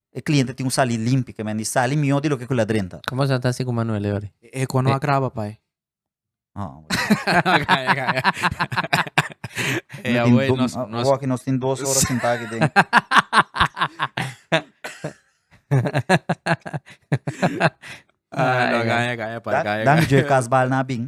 E cliente tin un sali limpi ke mendi sali mihó di loke ku ladren ta. Komo asina ta si ku Manuele ori? E eko no a graba pai. Oh. Kaya kaya. E awei nos nos. Oaki nos tin dos ora sinta aki den. Ah no kaya kaya pai kaya kaya. Dan Joe Casbal na bin.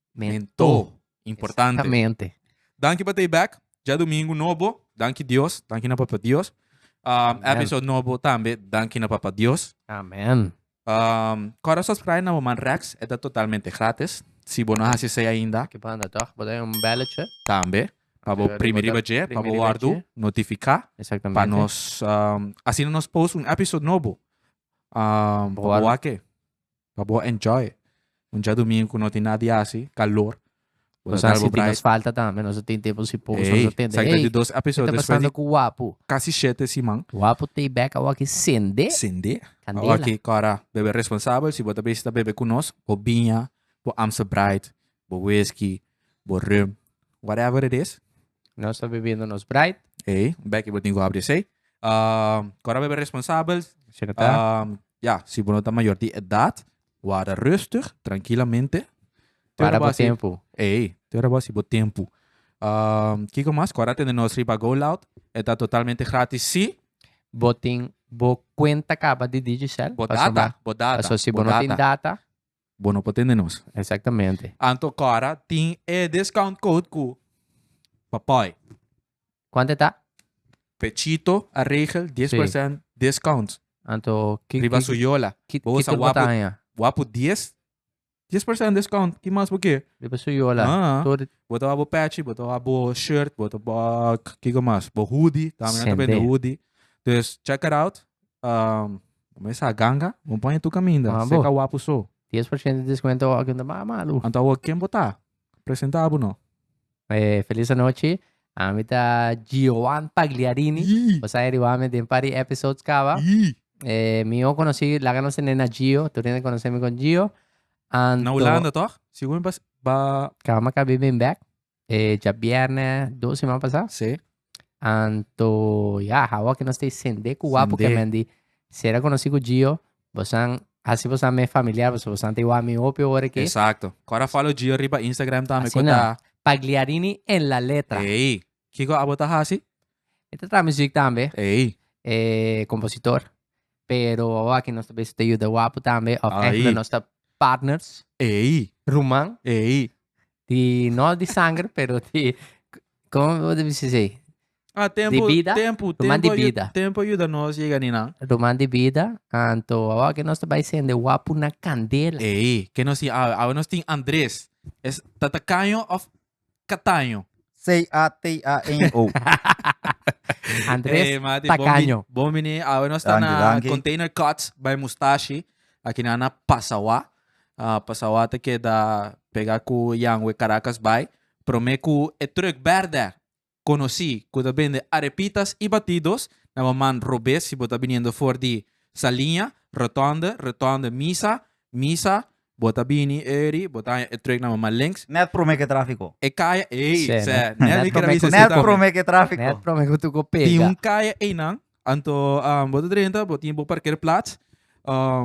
Mento. Importante. Exactamente. Danki pa tei back. Ja domingo nobo. Danki Dios. Danki na Papa Dios. Um, Amen. episode nobo tambe. Danki na Papa Dios. Amen. Um, Cora subscribe na Woman Rex. Eta totalmente gratis. Si bo no hasi sei ainda, Ke banda toch? Bota un belletje. tambe. Pa bo Arriba, primi riba je. Pa bo primi riba wardu. je. Notifica. Pa Exactamente. nos... Um, asina nos post un episode nobo. Um, Bo pa bo wardu. wake. pa bo enjoy un diadomingo cu no tin nada di haci, calor. Bo ta sal bo brai. Nos falta tambe, nos tin te por si poco, nos ta tende. Ey, ey, dos episodio después. Kita pasando cu wapu. Casi shete siman. Wapu te back a waki sende. Sende. Candela. A waki cora bebe responsable, si bo ta besi ta bebe cu nos, bo biña, bo amsa bright. bo whisky, bo rum, whatever it is. Nos ta bebiendo nos bright. Ey, un beki bo tin ku habri esey. Um, kora bebe responsabel. Si no ta. Um, ya, si bo no ta mayor di edad, wada rustig, trankilamente. Te Para ora bo bo asi- tempo. Ey, te ora bo asi bo tempu. Um, kiko mas? Kora tende nos riba Go Loud. E ta totalmente gratis si Bo tin, bo cuenta caba di Digicel. bo pa data, suma. bo data, Paso si bo bo no tin data, bo no por tende nos. Exactamente. Anto Cora tin e discount code cu papai. Cuanto ta? Pechito a regel 10% sí. discount. Anto ki, riba su yola. Ki, bo sa wapu, wapu 10 10% discount. Ki mas bo ke? Riba su yola. Ah, Todo... Bo ta bo patchy, bo ta bo shirt, bo ta bo kiko mas, bo hoodie, también ta vende hoodie. Dus check it out. Um, Bo me sa ganga? Bo pon e tu kaminda, Mambo. seka wapu so. Dies por shente deskuento awor kende mas malu. Anto awor ken bo ta? Presenta bo no. E felis anochi, ami ta Gioan Pagliarini. Yii. Bo sai ariba ami den par di episodes kaba. Yii. E mi o konosi, laga nos tende na Gio, tur hende konosi mi kon Gio. Anto. Na Hulanda toch? Sigue mi pa ba. Kaba mi a kabi bin bek. Eh, ja bierne do semana pasa. Sí. Anto, ja, hawa que nos te sende ku wapu Sende. que men di. Sera conocí ku Gio, bosan, así bosan me familiar, bosan bosan te wami hopi ore que. Exacto. Cora follow Gio riba Instagram tambe. Así na. Pagliarini en la letra. Ey. Kiko abo ta hasi? E ta traha muziek tambe, Ey. eh, compositor. Pero hawa que nos ta bezig te yuda wapu tambe, of Ahí. eigenlijk nos ta partners, Ey. ruman. Ey. Di, no di sanger, pero di, como debe se dizer? Ah, tempo, Di vida? tempo, Tu man di tempo, ayu- vida. tempo ajuda nos llega ni nan. Roman di vida, anto, awa que nos te vai sende wapu na candela. Ey, que nos tin, ah, ahora nos tin Andrés. Es tatacaño of cataño. C-A-T-A-N-O. Andrés Ey, mati, Tacaño. Bon bini, ahora nos está Dankie, na dankie. Container Cuts by Mustashi. Aquí na na Pasawa. Pasawater keda pega ku Jan we Caracas bai. Prome ku e truk berde konosí ku ta bende arepitas i batidos na bo man robes si bo ta biniendo for di Saliña, Rotonde, Rotonde, Misa, Misa, bo ta bini eri bo ta haña e truk na bo man links. Nèt prome ke tráfiko. E kaya ei, sè, nèt prome ke tráfiko. Nèt prome ku tuko pega. Tin un kaya einan Anto bo ta drenta, bo tin bo parkeerplats,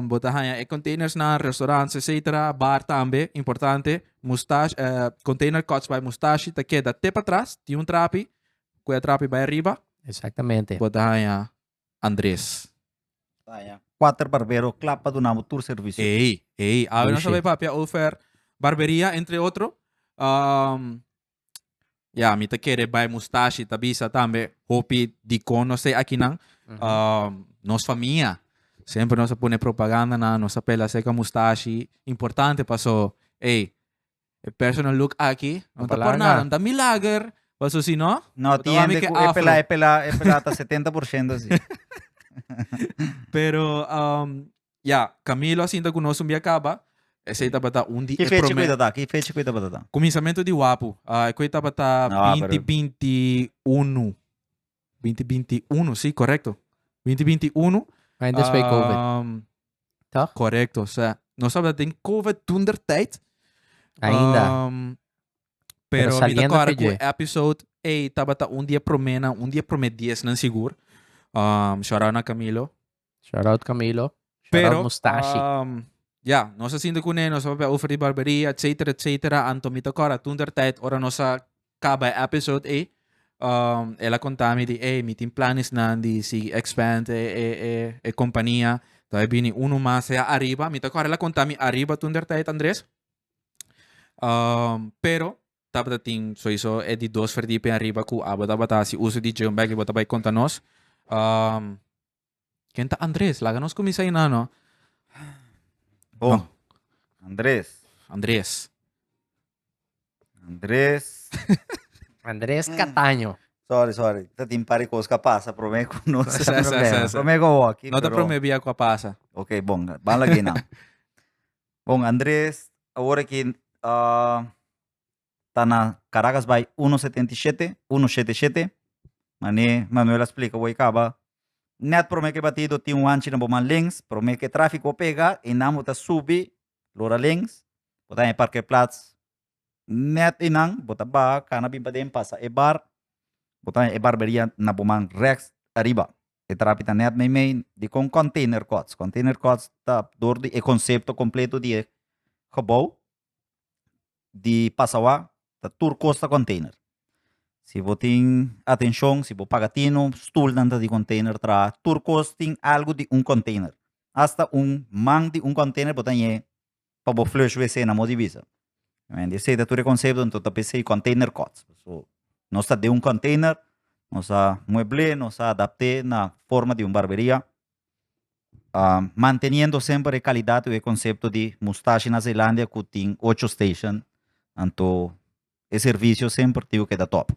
bo ta haña e containersnan, restaurants etcetera, bar tambe, importante, mustashi container cuts by mustashi ta keda te patras, tin un trapi, cu e trapi bay ariba, bo ta haña Andres. Ta haña cuater barbero cla pa dunabo tur servicio. Ey, ey, awe nos ta bay papia over barberia entre otro. Ya, mi ta kere bai mustashi, ta bisa tambe hopi dikon nos te akinan. Mhm. Ah, nos famia, sempre nos a pone propaganda na, nos a pela seca mustashi. Importante paso, ey, e personal look aki, no ta por Palanga. nada, no ta milager, paso si no, No Otra tiende vez que ku e afro. pela e pela e pela ta 70% si. Pero um, Ya, Camilo a sinta cu nos un bia caba. Esey tabata un di e primer... Ki fecha cu e tabata? Ki fecha cu e tabata? Cuminsamentu di Wapu. Uh, cu e tabata binti binti unu. Binti binti unu, si, correcto. Binti binti unu. Maar in después COVID. Um, Toch? Correcto, sa. Nos tabata den COVID tunder tijd. Ainda. Um, pero, pero mi ta corre cu episode, ey, tabata un di e promena, un di e prome dies nan sigur. Um, shout out na Camilo. Shout out Camilo. Shout Pero, out Mustashi. Um, ja, nos a sinto kune, nos a papia over di barberia, et cetera, et cetera. Anto mi tokora, toen der tijd, ora nos a kaba episode e, um, el a konta mi di, hey, mi tin planes nan di si expand e, e, e, e kompania. Toen e bini uno mas e arriba. Mi tokora, el a konta mi arriba toen der tijd, Andres. Um, pero, tabata tin, sowieso, e di dos verdipe arriba ku abo tabata si uso di gym bag, ibo tabata konta nos. Um, Ken ta Andres? Laga nos kuminsá hinan no. Bon. Andres. Andres. Andres. Andres Cataño. Sorry, sorry. Ta tin par di kos ku a pasa promé ku nos. Sa, sa, sa, sa. Promé ku awor aki, No ta pero- promé bia ku a pasa. Ok, bon. Ban lag'ey nan. Bon, Andres, awor aki, ah, ta na Caracas bay uno setenta i shete, uno shete shete. Mane Manuel a splika awey caba, net prome ke batido tin un anchi na bo man lens, prome ke trafiko a pega einan bo ta subi lora lens, bo ta haña e parkeerplats net einan, bo ta baha kana bin paden pasa e bar, bo ta haña e barberia na bo man reks ariba. E trapi ta net meimei dikon konteinerkots, konteinerkots ta dor di e konsepto kompleto di e gebou, di pasawa ta tur kos ta container. Si bo tin atencion, si bo paga tino, stulnan ta di container traha. Tur kos tin algo di un container. Hasta un man di un container bo ta ñe pa bo flush wc na mo di bisa. Esey ta tur e concepto, anto ta p'esey container kots. So, nos ta den un container, nos a muebl'é, nos a adapt'é na forma di un barberia, manteniendo semper e calidad cu e concepto di Mustache na Zeelandia cu tin ocho station anto e servicio semper tin cu keda top.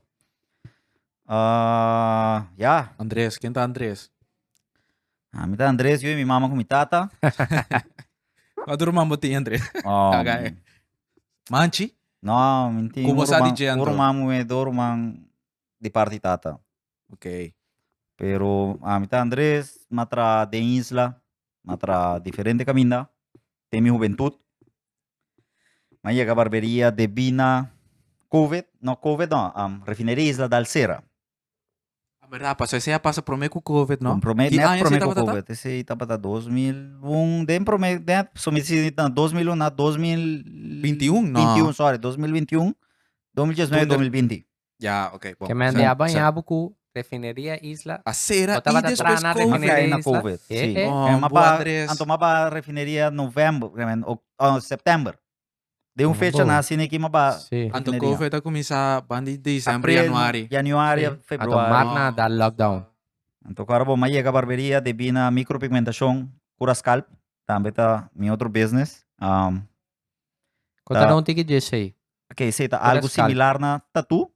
ya. Andres, ken ta Andres? Ah, mi ta Andres, yo y mi mama con mi tata. Wat rumman bo tin Andres? Um, Kagai. Manchi? No, mi tin Como sa di Jandro? un rumman, un do rumman di parte di tata. Okay. Pero ami ta Andres, ma traha den isla, ma traha diferente caminda, den mi juventud. Ma yega barberia debi na covid, no covid no, um, refineria isla dal cera. A berdad, paso esey a pasa prome cu covid, no? Con prome, Ki net aña prome esey cu tabata ta? covid, esey tabata 2001, den prome, den, so mi si na 2001, na 2000... 21, no. 21, sorry, 2021, 2019, Donder- 2020. Ya, ok, bon. Kemen di a baña bo ku refineria isla. A sera i despues covid. Si. Bon, bo adres. Anto maba refineria november, kemen september. Den un fecha na asina aki maba refineria. Anto covid a kuminsá ban di december, januari. April, januari, februari. Anto marna a da lockdown. Anto ku ora bo m'a yega barberia debí na micropigmentashon, kuraskalp, tambe ta mi otro business. Kon ta don tiki djesei? Ok, esei ta algu similar na tatu,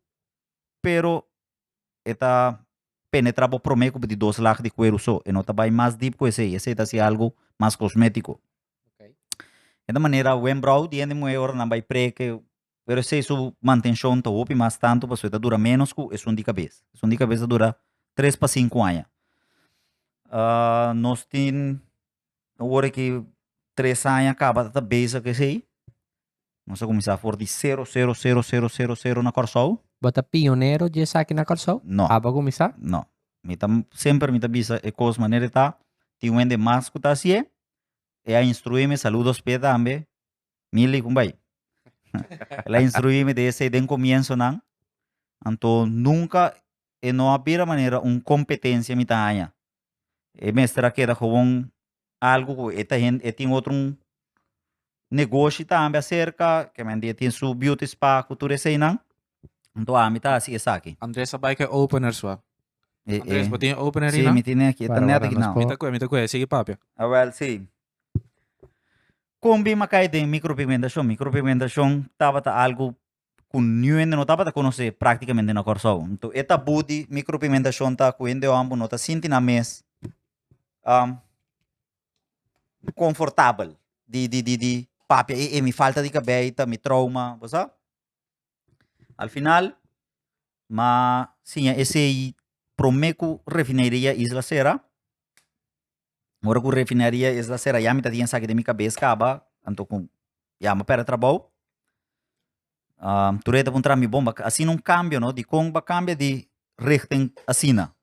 pero e ta penetra bo prome ku di dos lag di kueru so, e no ta bai mas deep ku esei, esei ta hasi algu mas kosmetiko. E ta manera wembrow di hende muhé ora nan bai preke, pero esei su mantenshon ta hopi mas tantu pasobra e ta dura ménos ku esun di kabes. Esun di kabes ta dura tres pa sinku aña. nos tin ora ki tres aña kaba ta ta bezig esei, nos ta kuminsá for di sero, sero, sero, sero, sero, sero na Kòrsou. Bo ta pionero di esaki na Kòrsou? No. Aba kuminsá? No. Mi ta, semper mi ta bisa e kos manera e ta. Tin wende mas ku ta hasié, e a instruími, saludos p'e tambe, Mili ku bai. El a instruími di esei den komiensonan, anto nunka e no a bira manera un competencia mi ta haña. E mester a keda gewoon algo cu e ta hende, e tin otro negoshi tambe acerca, kemende e tin su beauty spa cu tur eseinan, anto ami ta haci esaki. Andres a bai cu e opener su a. E e. Andres, bo tin e opener ahi Si, nan? mi tin aki, e ta Para net wara aki nos nan. Mi po. ta cu e, mi ta cu e. Sigui papia. A wel si. Con bin a cay den micropigmentacion? Micropigmentacion tabata algo ku niu hende no tabata konosé práktikamente na Kòrsou. Nto e tabú di mikropigmentashon ta ku hende hòmber no ta sinti nan mes konfortabel di di di di papia e e mi falta di kabei ta mi trouma, bo sa. Al final m'a siña esei promé ku refineiria Isla Sera. Ora ku refinaria esta sera yami ta tin esaki den mi kabes kaba anto ku yami a perde trabou tur e ta puntra mi bon a asina un kambio no dikon bo a kambia di richting asina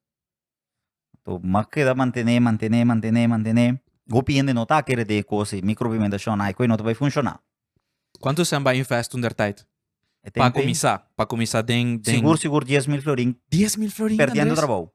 bo a keda mantene mantene mantene mantene hopi hende no ta kere di kos di mikro pimentashon ai ku e no ta bai funshona. Kuantu esnan bai invest toentertyd pa kuminsá pa kuminsá den den sigur sigur dies mil florin perdiendo trabou.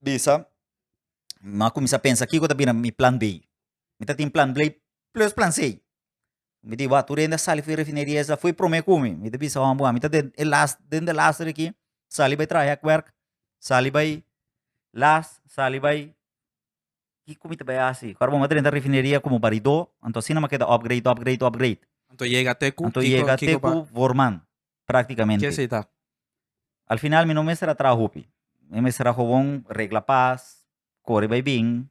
bisa, mi a kuminsá pensa kiko ta bira mi plan be. Mi ta tin plan be plus plan c. Mi di wak tur hende a sali for e refineria esa, foi promé ku mi. Mi ta bisa hòmber wan mi ta den e las den de las tur aki, sali bai traha hèk wèrk, sali bai las, sali bai, kiko mi ta bai hasi? Ku awor mi ta renta refineria komo baridó, anto asina mi a keda opgrade, opgrade, opgrade. Anto yega te ku? Anto yega te ku vorman. Prácticamente. Ke esei ta? Al final mi no mester a traha hopi. Mi mester a gewoon regla pas, kore bai bin.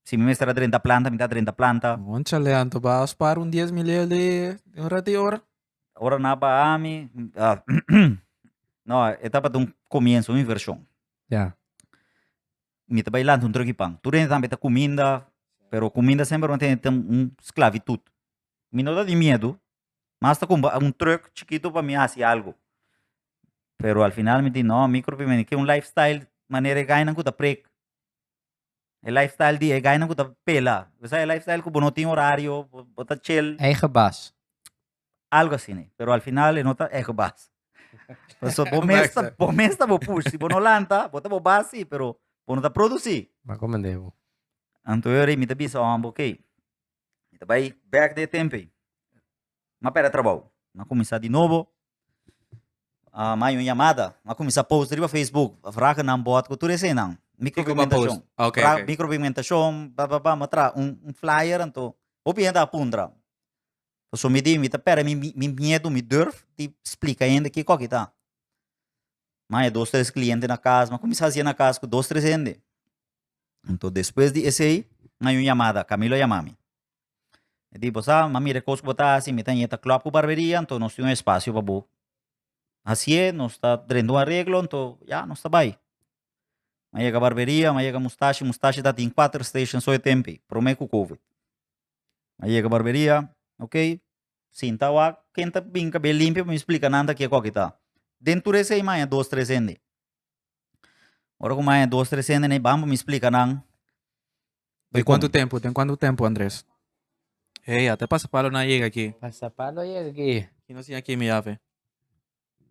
Si mi mester a drenta planta, mi ta drenta planta. Moncha leanto baha spar un dies mi lei alí un rati ora. Ora nan a baha mi, ah, no, e tabata un comienzo, un inversion. Ya. Mi ta bai lanta un truki pan. Tur hende tambe ta cuminda, pero cuminda semper lo tene un sclavitud. Mi no ta di miedu, Mas ta compra un truck chikito pa mi hasi algo. Pero al final mi di no, mi preferi ken un life style manera e gainan ku ta prek. E life style di e gainan ku ta pela. Bo sa e life style ku bo no tin horario, bo ta chel. Eigen baas. Algo asina e. Pero al final e no ta eigen baas. Pasobra bo mes ta, bo mes ta bo push. Si bo no lanta, bo ta bo baas si, pero bo no ta produsi. Anto mi ta bisa homber, ok. Mi ta bai bek di e tempe. Mi a perde trabou. Mi a kuminsá di nobo. A mai un yamada. Mi a kuminsá post riba facebook. A fraga nan bòt ku tur esenan. Mikropigmentashon. Fraga mikropigmentashon, ba ba ba. Mi a traha un flyer anto hopi hende a puntra. Pasobra mi di mi ta perde mi miedu, mi durf di splika hende kiko ki ta. Mi a haña dos tres kliente na kas. Mi a kuminsá hasié na kas ku dos tres hende. Anto despues di esei mi a hay un yamada, Camilo a yama mi. E di, Bo sa, mi a mira e kos ku bo ta hasi, mi ta hini ta klòp ku barberia, anto nos tin un espasio pa bo hasié, nos ta drenta un areglo, anto ya, nos ta bai. Mi a yega barberia, mi a yega Mustashi, Mustashi tatin kuater station so e tempe, promé ku covid. Mi a yega barberia, okey, sinta wak, ken ta bin kabel limpio pa mi splika nan ta ke kòkita. Den tur esei mi a haña dos tres hende. Ora ku maya dos tres hende na e bamba mi splika nan. Den kuantu tempu den kuantu tempu Andres? Hei ata e pasapalo na yega aki. Pasapalo a yega aki. Ki nos tin aki mi yafe?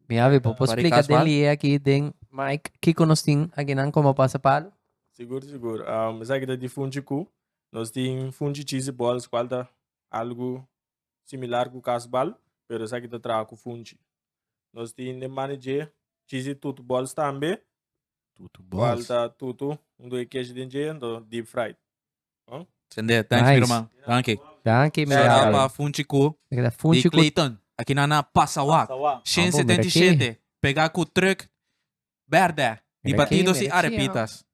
Mi yafe por por splika den lie aki den mic kiko nos tin aki nan komo pasapalo? Sigur sigur esaki ta di funchi ku nos tin funchi chisi bols kual ta algu similar ku kasbal, pero esaki ta traha ku funchi. Nos tin den manejé chisi tutu bòls tambe, Tutu kual bòls. ta tutu un due kesh den dje, anto deep fried. Bon. Sende, thanks mi Nice. ruman. Danki. Danki mi Shout out brother. pa Funchi Ku Esaki ta di funchi ku Clayton. Aki nan na Pasawak. Pasawak. Shen Ambo, mira aki. setenta i shete. Pega ku trùk Berde. Di batidos y arepitas.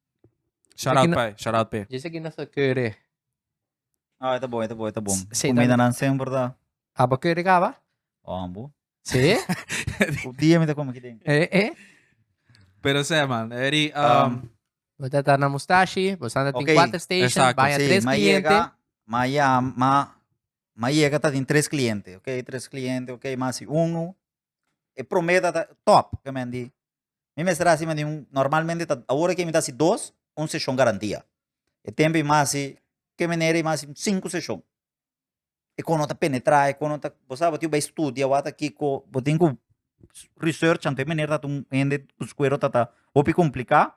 Shout out pay. Shout out pay. Djis aki nos ta curry. Ah, e ta bon, e ta bon, e ta bon. Sí, Comida también. nan semper ta Abo curry caba? on, bo. Sí. Un día me ta come kiden. eh, eh. Pero sé, man. Eri, um, Um, Bo ta ta na mustashi, bo santa tin Oké, cuatro station, exacto, baña Sí, tres ma cliente. llega, ma ya, ma, ma llega ta tin tres cliente, ok, tres cliente, ok, ma si uno, E promé ta ta tòp, ke men di. Mi mester a hasi men di un, normalmente ta, awor aki mi ta hasi dos, un seshon karan dia. E tempu i mas hasi, ke manera i mas hasi sinku seshon. E kon no ta penetrá, e kon no ta, bo sa bo tin ku bai studia wata kiko, bo tin ku research anto e manera ta un hende ku skuero ta ta hopi kompliká,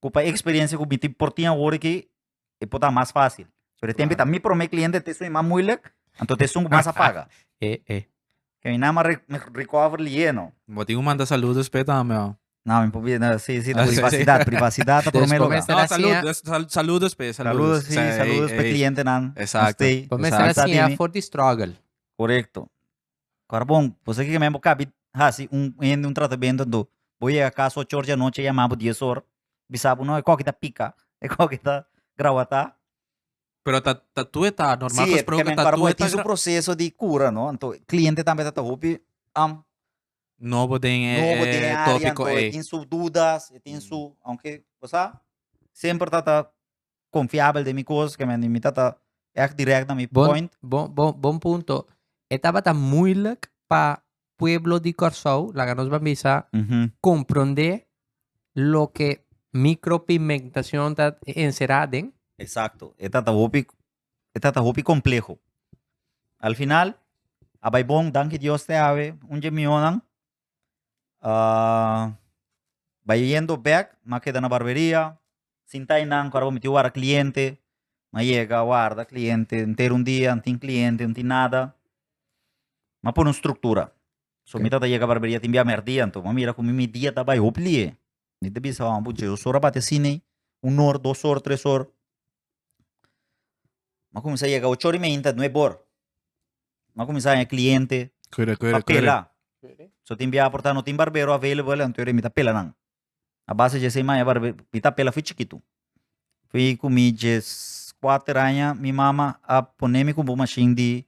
ku pa e eksperensia ku mi tin, por tin awor aki e por ta mas fácil. Pero e tempo ta mi promé cliente te soy más moeilijk, anto te soy más a paga. eh, eh. Que mi nama re, recover lieno. Bo tin un manda saludos pe tambe, oh. No, mi probeer, no, sí, sí, privacidad, privacidad ta promé lugar. No, saludos, saludos pe, saludos. Saludos, sí, saludos pe cliente nan. Exacto. Bo mester a siña for di struggle. Correcto. Barbon, bo sa kiko men bo kabi hasi un hende un tratamento anto bo yega kas ocho or di anochi a yama bo dies or bisa bo no e koki ta pika e koki ta grawata. Pero ta ta tueta normal si gesproke ta tueta. Si e barbon e tin su proceso di cura no anto cliente tambe ta ta hopi am nobo den e nobo den e area anto e tin su dudas e tin su aunke bo sa semper ta ta confiabel den mi cos, ke men mi tata echt direct na mi point. Bon, bon, bon, bon punto. E tabata moeilijk pa pueblo di Corsou, laga nos ban bisa, comprende loke micropigmentacion ta encera den? Exacto. E tata hopi, e tata hopi compleho. Al final, a bai bon, danki Dios te awe, un dje mihonan, Ah, bai yendo bek, ma keda na barberia. Sinta ei nan ku ora bo mitiu wara kliente, ma yega a warda kliente enter un dia, no tin kliente, no tin nada. Ma pone un struktura. So mi tabata yega barberia tin bia mèrdia anto bo a mira ku mi mi dia ta bai hopi lihe. Mi ta bisa hopi puchi dos or a bati asin ei, un or, dos or, tres or. Mi a kuminsá yega ocho or i media nta nueb or. Mi a kuminsá haña kliente Kere, kere, pa kere. pela. So tin bia por ta no tin barbero available, anto mi ta pela nan. A base dje esei mi a haña barbe, mi ta pela afui chikitu. Afui ku mi dje kuater aña mi mama a ponemi kumpu un mashin di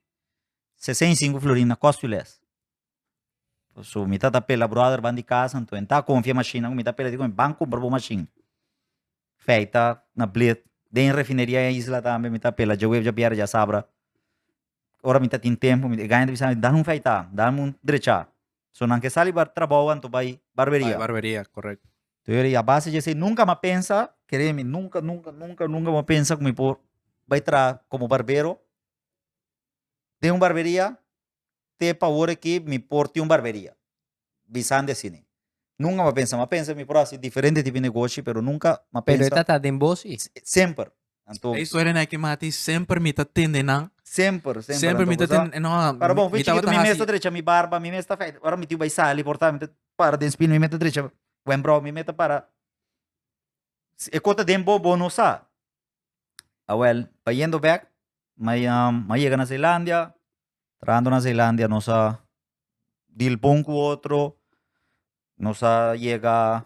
sesa i sinku florin na Corte Sules. So mi ta ta pela brother ban di casa, enton e ta confia machine, mi ta pela di cu mi ban cumpra bo machine. Feita na bleed, den refineria e isla tambe mi ta pela dje web dje bierde dje sabra. Ora mi ta tin tempo, mi guy ta bisa mi, dame un feita, dame un drecha. So nan ke sali bar trabou anto bai barberia. Bai barberia, correct. Te word di abase dje esey nunca mi a pensa, creeme, nunca, nunca, nunca, nunca mi a pensa cu mi por bai traha como barbero den un barberia. te pa ora ki mi por tin un barberia bisan di asini nunka mi a pensa mi a pensa mi por hasi diferente tipo di negoshi pero nunka mi a pensa pero e ta ta den bos i semper anto e historia na e ke mati semper mi ta tende nan semper semper mi ta tende nan semper para bon mi ta wata hasi mi mes ta drecha mi barba mi mes ta afeita ora mi tiu bai sali por ta mi ta para den spino mi mes ta drecha wembro mi mes ta para e ko ta den bo bo no sa. Awel, pa yendo bek, ma ma yega na Zeelandia. Trahando na Zeelandia nos a dil bon ku otro. Nos a yega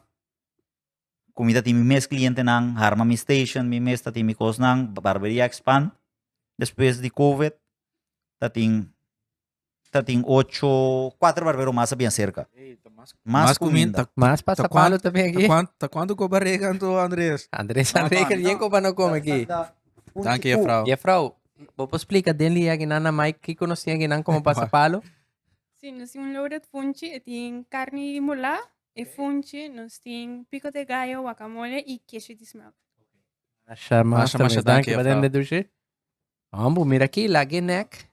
ku mi ta tin mi mes klientenan, harma mi station, mi mes ta tin mi kosnan, barberia expand. Despues di Covid ta tin ta tin ocho, cuatro barbero mas a bien cerca. Ey, ta mas Mas cuminda. ta- Mas pasa ta palo cuan- ta ben ta aquí. cuan- ta cuánto go barrega anto Andrés? Andrés No, Andrés mami, que bien no. como no come aquí. Dank je juffrouw. Juffrouw, bo por explica den li aquí nan na Mike que cono si aquí nan como pasa palo? Si nos tin un loaded funchi, e tin carni di mulá, e funchi, nos tin pico de gallo, guacamole y queso di smelt. Masha Masha, masha, dank je, juffrouw. Medushi. Ambu, mira aki, lag'é nèk.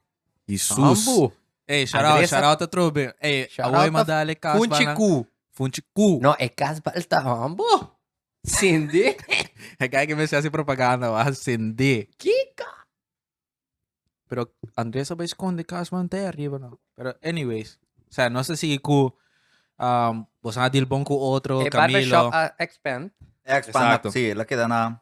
Di sus. Ambu. Ey, shout-out, Adresa- shout-out a trobe. Ey, Shout-out awor a man dale e kasba Funchi nan. ku. Funchi ku. No, e kasba el ta ambu. Sindi. Hij kijken mensen hacen propaganda, wa sende. Kika. Pero Andrés bai esconde Cashman te arriba, no. Pero anyways, o sea, no se sigue cu um, vos a deal bon cu otro, E Camilo. barbershop a expand. Expand Exacto. up, sí, la queda na...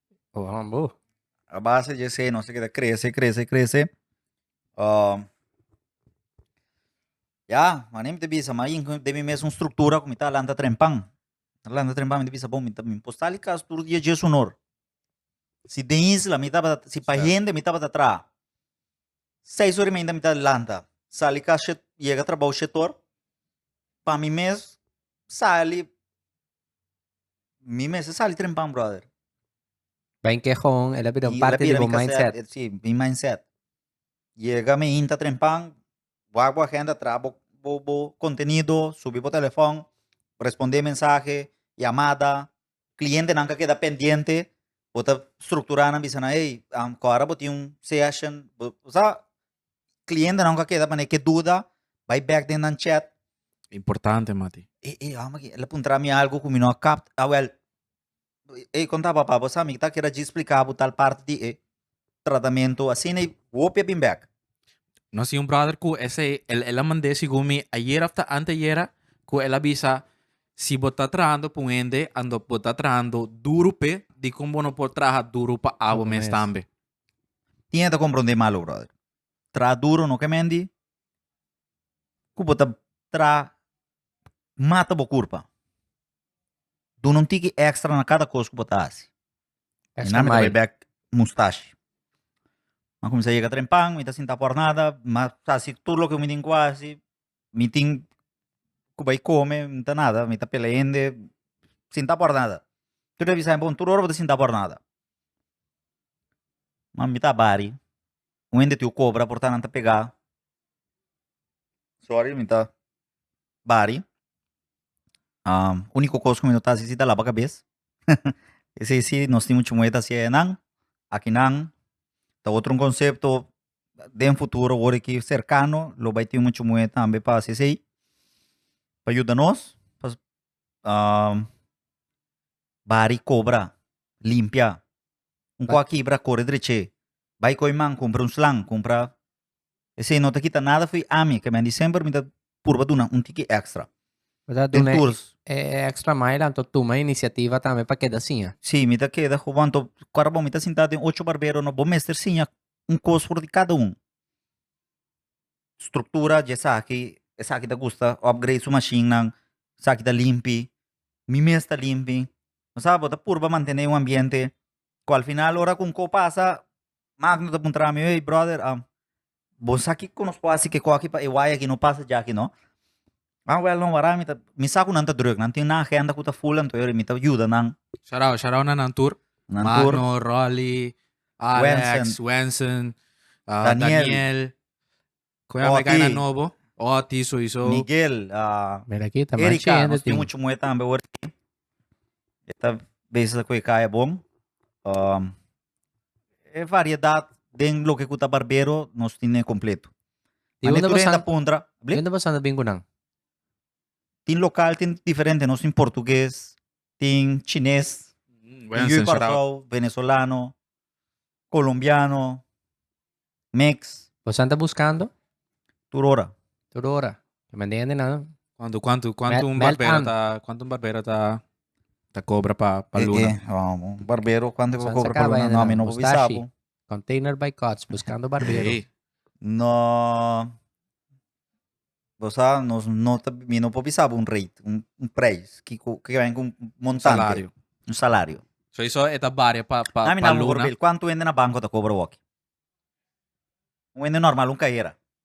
A base di esei nos a keda krese, krese, krese. Um, ya, maní mi ta bisa, ma ain den mi mes un struktura ku mi ta lanta trempan. Ta lanta trempan, mi ta bisa, bon, mi ta, mi por sali kas tur dia djes hunor. Si den isla mi tabata, si pa hende mi tabata traha, seis ora y meinta mi ta lanta, sali kas shet, yega trabou shetor, pa mi mes sali Mi mester sali trempan, brother. Ben ke gewoon, el a bira un Y parte él di bira bo mi cassette, mindset. eh, Sí, mi mindset. Yega mi hinta trempan, wak bo agenda, traha bo, bo, bo contenido, subi bo telefòn, respondé mensahe, yamada, clientenan ka keda pendiente, bo ta structura nan bisa nan, ey, am, ku ora bo tin un session, bo sa, clientenan ku a keda manera ke duda bai bek den nan chat Importante, mati. e e hòmber aki el a puntra mi algu ku mi no a kap awèl e konta papa bo sa mi ta keda djis splika bo tal parti di e tratamentu asina i hopi a bin bek Nos tin un brother ku esei el el a mand'é segun mi ayera òf ta anteayera ku el a bisa si bo ta trahando pa un hende ando bo ta trahando duru p'e dikon bo no por traha duru pa abo mes tambe. Tin e ta komprondé malu, brother. Traha duro no ke mendi ku bo ta traha mata bo kurpa. Duna un tiki ekstra na kada kos ku bo ta hasi. mustashi. Mi a kuminsá yega trempan, mi ta sinta por nada, mi a hasi tur loke mi tin ku hasi, mi tin ku bai kome, mi ta nada, mi ta pela hende, sinta por nada. Tur a bisa bo, tur ora bo ta sinta por nada. Ma mi ta bari un hende tin ku kobra por nan ta pega sorry mi ta bari uniko kos ku mi no ta hasi si ta laba kabes esei si nos tin muchu muhé ta hasié nan akinan ta otro konsepto den futuro wor aki serkano lo bai tin muchu muhé tambe pa hasi esei pa yuda nos bari kobra. Limpia. Un kua kibra, kore dreché. Bai koi man, kumpra un slang, kumpra. Esei no ta kita nada fo'i ami, kemen di semper mi ta purba duna un tiki extra. Bo ta Den duna e, tours, e extra mile anto tuma inisiativa tambe pa keda siña. si, mi ta keda hopi, anto ora bo mi ta sintá den ocho barbero, no, bo mester siña un kos for di kada un. struktura dje saki esaki ta gusta opgreit su mashinnan saki ta limpi mi mes ta limpi bo sa bo ta purba mantene un ambiente ku al final ora ku un ko pasa magno ta puntra mi ey brother bo sa kiko nos por hasi kiko aki pa e wai aki no pasa djaki no Ah wel no wara mi ta mi sa ku nan ta druk nan tin nan agenda ku ta full anto mi ta yuda nan. Shout out, shout out na nan tur. Nan tur. Magno, Rolly, Alex, Wensen. Wensen, ah, Daniel. Daniel. Koe Oti. Amerika na nobo. Oti soiso. Miguel, ah, Mira aki, ta Erika, machende nos tin tin. muchu muhe tambe ora aki. E ta bezig ta koe kaya bon. Um, e variedat den loke ku ta barbero nos tin e kompleto. Di Mane unda tur hende pasan, puntra. di Bli? unda pasan ta bin ku nan. Tin lokal, tin diferente. Nos tin portuges, tin chines, tin Wen Yuyu censurado. Kòrsou, venesolano, kolombiano, mix, Pasan ta buskando tur ora. tur ora. E mende hende nan. Kuantu kuantu kuantu Mel- un mel barbero an. ta kuantu un barbero ta ta kobra pa pa E, luna? e, ah, un barbero, kuantu e por San kobra pa sakaba luna? hende No, nan, mi no por bisa mustashi. bo. Container by Cuts, Buscando Barbero. Hey, no. Bosa, nos no ta, mi no por pisar un rate, un, un prijs, que, que ven con un montante. Salario. Un salario. So eso está varia pa, pa, Nami pa na luna. por cuánto vende na banco ta cobra walkie. Un vende normal, un carrera.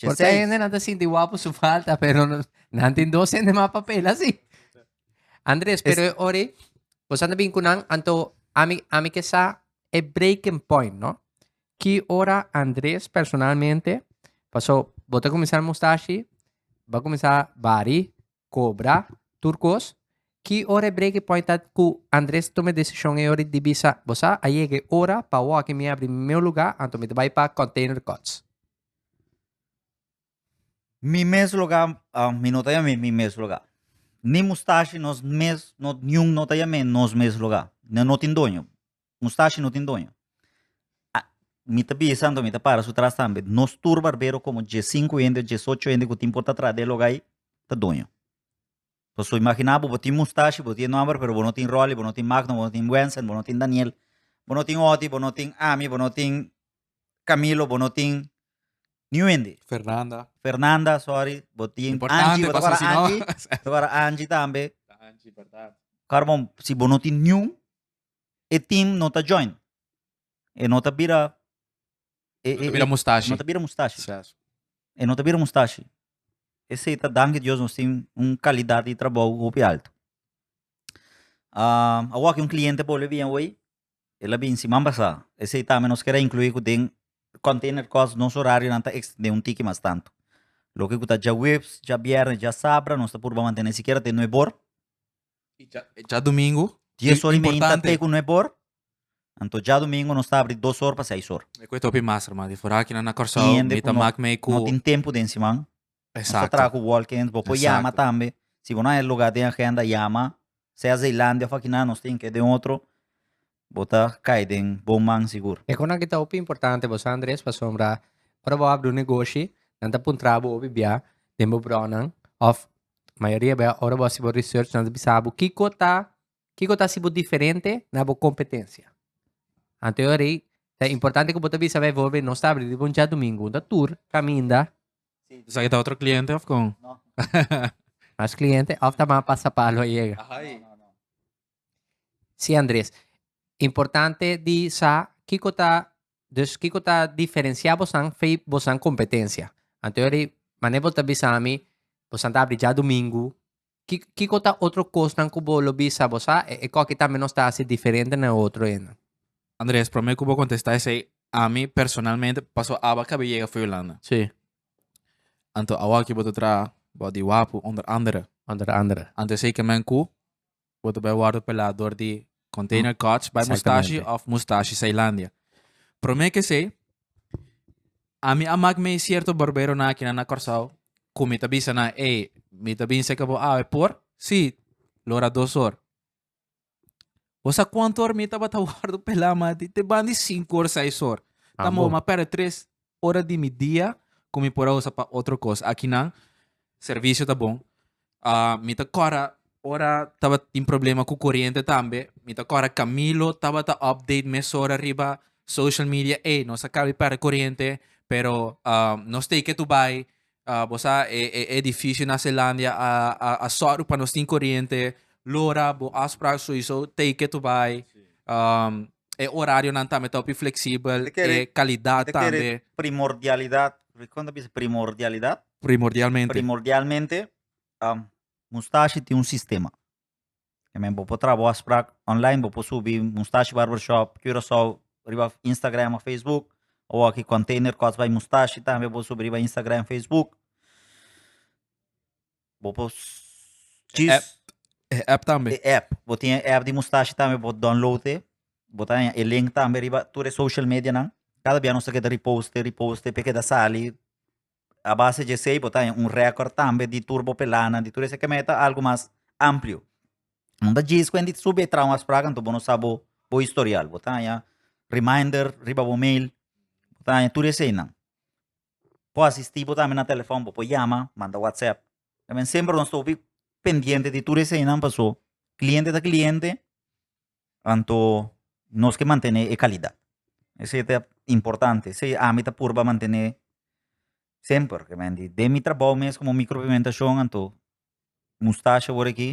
Por Chesei. que gente no te sinti guapo su falta, pero no, nan tin dos gente más papel así. Andres, pero e ori, vos anda bien con nan, anto, ami, ami que sa, e breaking point, no? Ki ora Andres personalmente, pasó, vos te comenzar mustache, va comenzar bari, Cobra, tur cos. Ki ora e break e point at cu Andres tuma e decision e ora di bisa, Bo sa, a yega e ora pa walkie mi abri mi meu lugar, anto mi ta bay pa Container Courts. Mi mes lugar, mi no ta yam'e mi mes lugar. Ni Mustashi, nos mes, not niun no ta yam'e nos mes lugar. Nan no tin doño. Mustashi no tin doño. Ah, mi ta bisa anto, mi ta para su tras tambe. Nos tur barbero como die sinku hende o die socho hende ku tin por ta tras de e loga ei, ta doño. Paso imagina bo, bo tin mustashi, bo tin e nòmber, pero bo no tin Rolly, bo no tin Magno, bo no tin Wensen, bo no tin Daniel, bo no tin Oti, bo no tin Ami, bo no tin Camilo, bo no tin niun hende. Fernanda. Fernanda, sorry, bo tin Importante, Angie, bo ta paso para si no- Angie, ta para Angie tambe. Ta Angie, berdad. Kòrbo, si bo no tin niun, e team no ta join. E no ta bira e, e, Mira e- mustashi. no ta bira mustashi. Sas. E no ta bira mustashi. E sei ta danki Dios nos tin un kalidad di trabou hopi alto. Ah, a wak un kliente por le bien hoy. El a bin siman pasá. E sei tambe nos kera incluí ku den container cost nos horarionan ta extendé un tiki mas tanto. Loke ku ta djawips, djabièrnes, djasabra nos ta purba mantené sikiera te nuebor. Dja domingo. Dies or y meinta te cu no e bor. Anto dja domingo nos ta abri dos or pa seis or. E cu e topi mas hermano di fora aki nan na Corsou mi ta mak mei cu. Tin hende cu no tin tempo den siman. Exacto. Nos ta traha cu walk-ins bo por yama tambe si bo no haya e lugar den agenda yama sea Zeelandia of aki nan nos tin ke den otro Bo ta kai den bon man sigur. E konan ki ta hopi importante bo sa Andres pasobra ora bo habri un negoshi nan ta puntra bo hopi bia den bo bronan of mayoria bia ora bo hasi bo research nan ta bisa bo kiko ta kiko ta hasi bo diferente na bo kompetensia anto yari ta importante ku bo ta bisa befo bo nos ta habri riba un diadumingu un ta tur kaminda Sa e ta otro kliente of kon? mas kliente of ta mas pasapalo a yega. Sí Andres, importante di sa kiko ta dus kiko ta diferensia bosan fei bosan kompetensia. Antoyori mane bo ta bisami bosan ta abri dja domingu ki kiko ta otro kosnan ku bo lo bisa bo sa e koki tambe nos ta hasi diferente na e otro e nan? Andres, prome ku bo kontesta esei ami personalmente paso aba kabi yega for Hulanda. Sí. Anto awoki bo ta traha bo di wapu onder andere. Onder andere. Anto esei kemen ku Bo ta bai wòrdu pelá dor di Container Coach bai Mustashi Exactamente. of Mustashi Zeilandia. Promé kesei, ami a mak mei sierto barberonan aki nan na Kòrsou ku mi ta bisa nan, ey, mi ta bin seka bo awe, por? Sí, lo ora dos or. Bo sa kuantu or mi tabata wòrdu pelá, mati? Te ban di sinku or, seis or. Ta Ambo. mobo, ma pèrdè tres, ora di mi dia cu mi por a usa pa otro cos. Aki nan servicio ta bon. Uh, mi ta cora ora taba tin problema cu corriente tambe. Mi ta cora Camilo taba ta update mesora riba social media. Ey, nos acabi per corriente, pero uh, nos take it to buy. Uh, bosa e, e, e edificio na Zelandia a, a, a sorry pa nos tin corriente. Lora, bo afspraak sowieso take it to buy. Um, E orarionan tambe ta hopi fleksibel, Te kere- e kalidat te kere- tambe, Primordialidad. Kon ta bisa primordialidad? primordialmente. Primordialmente, um, Mustashi tin un sistema. E men bo por traha bo afsprak online, bo por subi Mustashi Barbershop Curaçao riba Instagram of Facebook. Awaki Container Cuts by Mustashi tambe bo por subi riba Instagram, Facebook. Bo por chis E app tambe. e app. Bo tin e app di Mustache tambe, bo download e. Bo ta haña e link tambe riba tur e social medianan. Kada bia nos ta keda repost e, repost e, pe keda sali. A base dje esei bo ta haña un record tambe di tur bo pelanan, di tur esei. Ke meta algu mas amplio. Bo no ta djis ku hende ta subi e traha un afsprak, anto bo no sa bo bo historial. Bo ta haña reminder riba bo mail, bo ta haña tur eseinan. por asisti bo tambe na telefòn, bo por yama, manda whatsapp. Ta bini semper nos ta hopi pendiente di tur eseinan paso kliente ta kliente, anto nos ke mantene e kalidat. Esei ta importante, esei ami ta purba mantene semper, den mi trabou mes komo mikropigmentashon anto mustasha wòrdu aki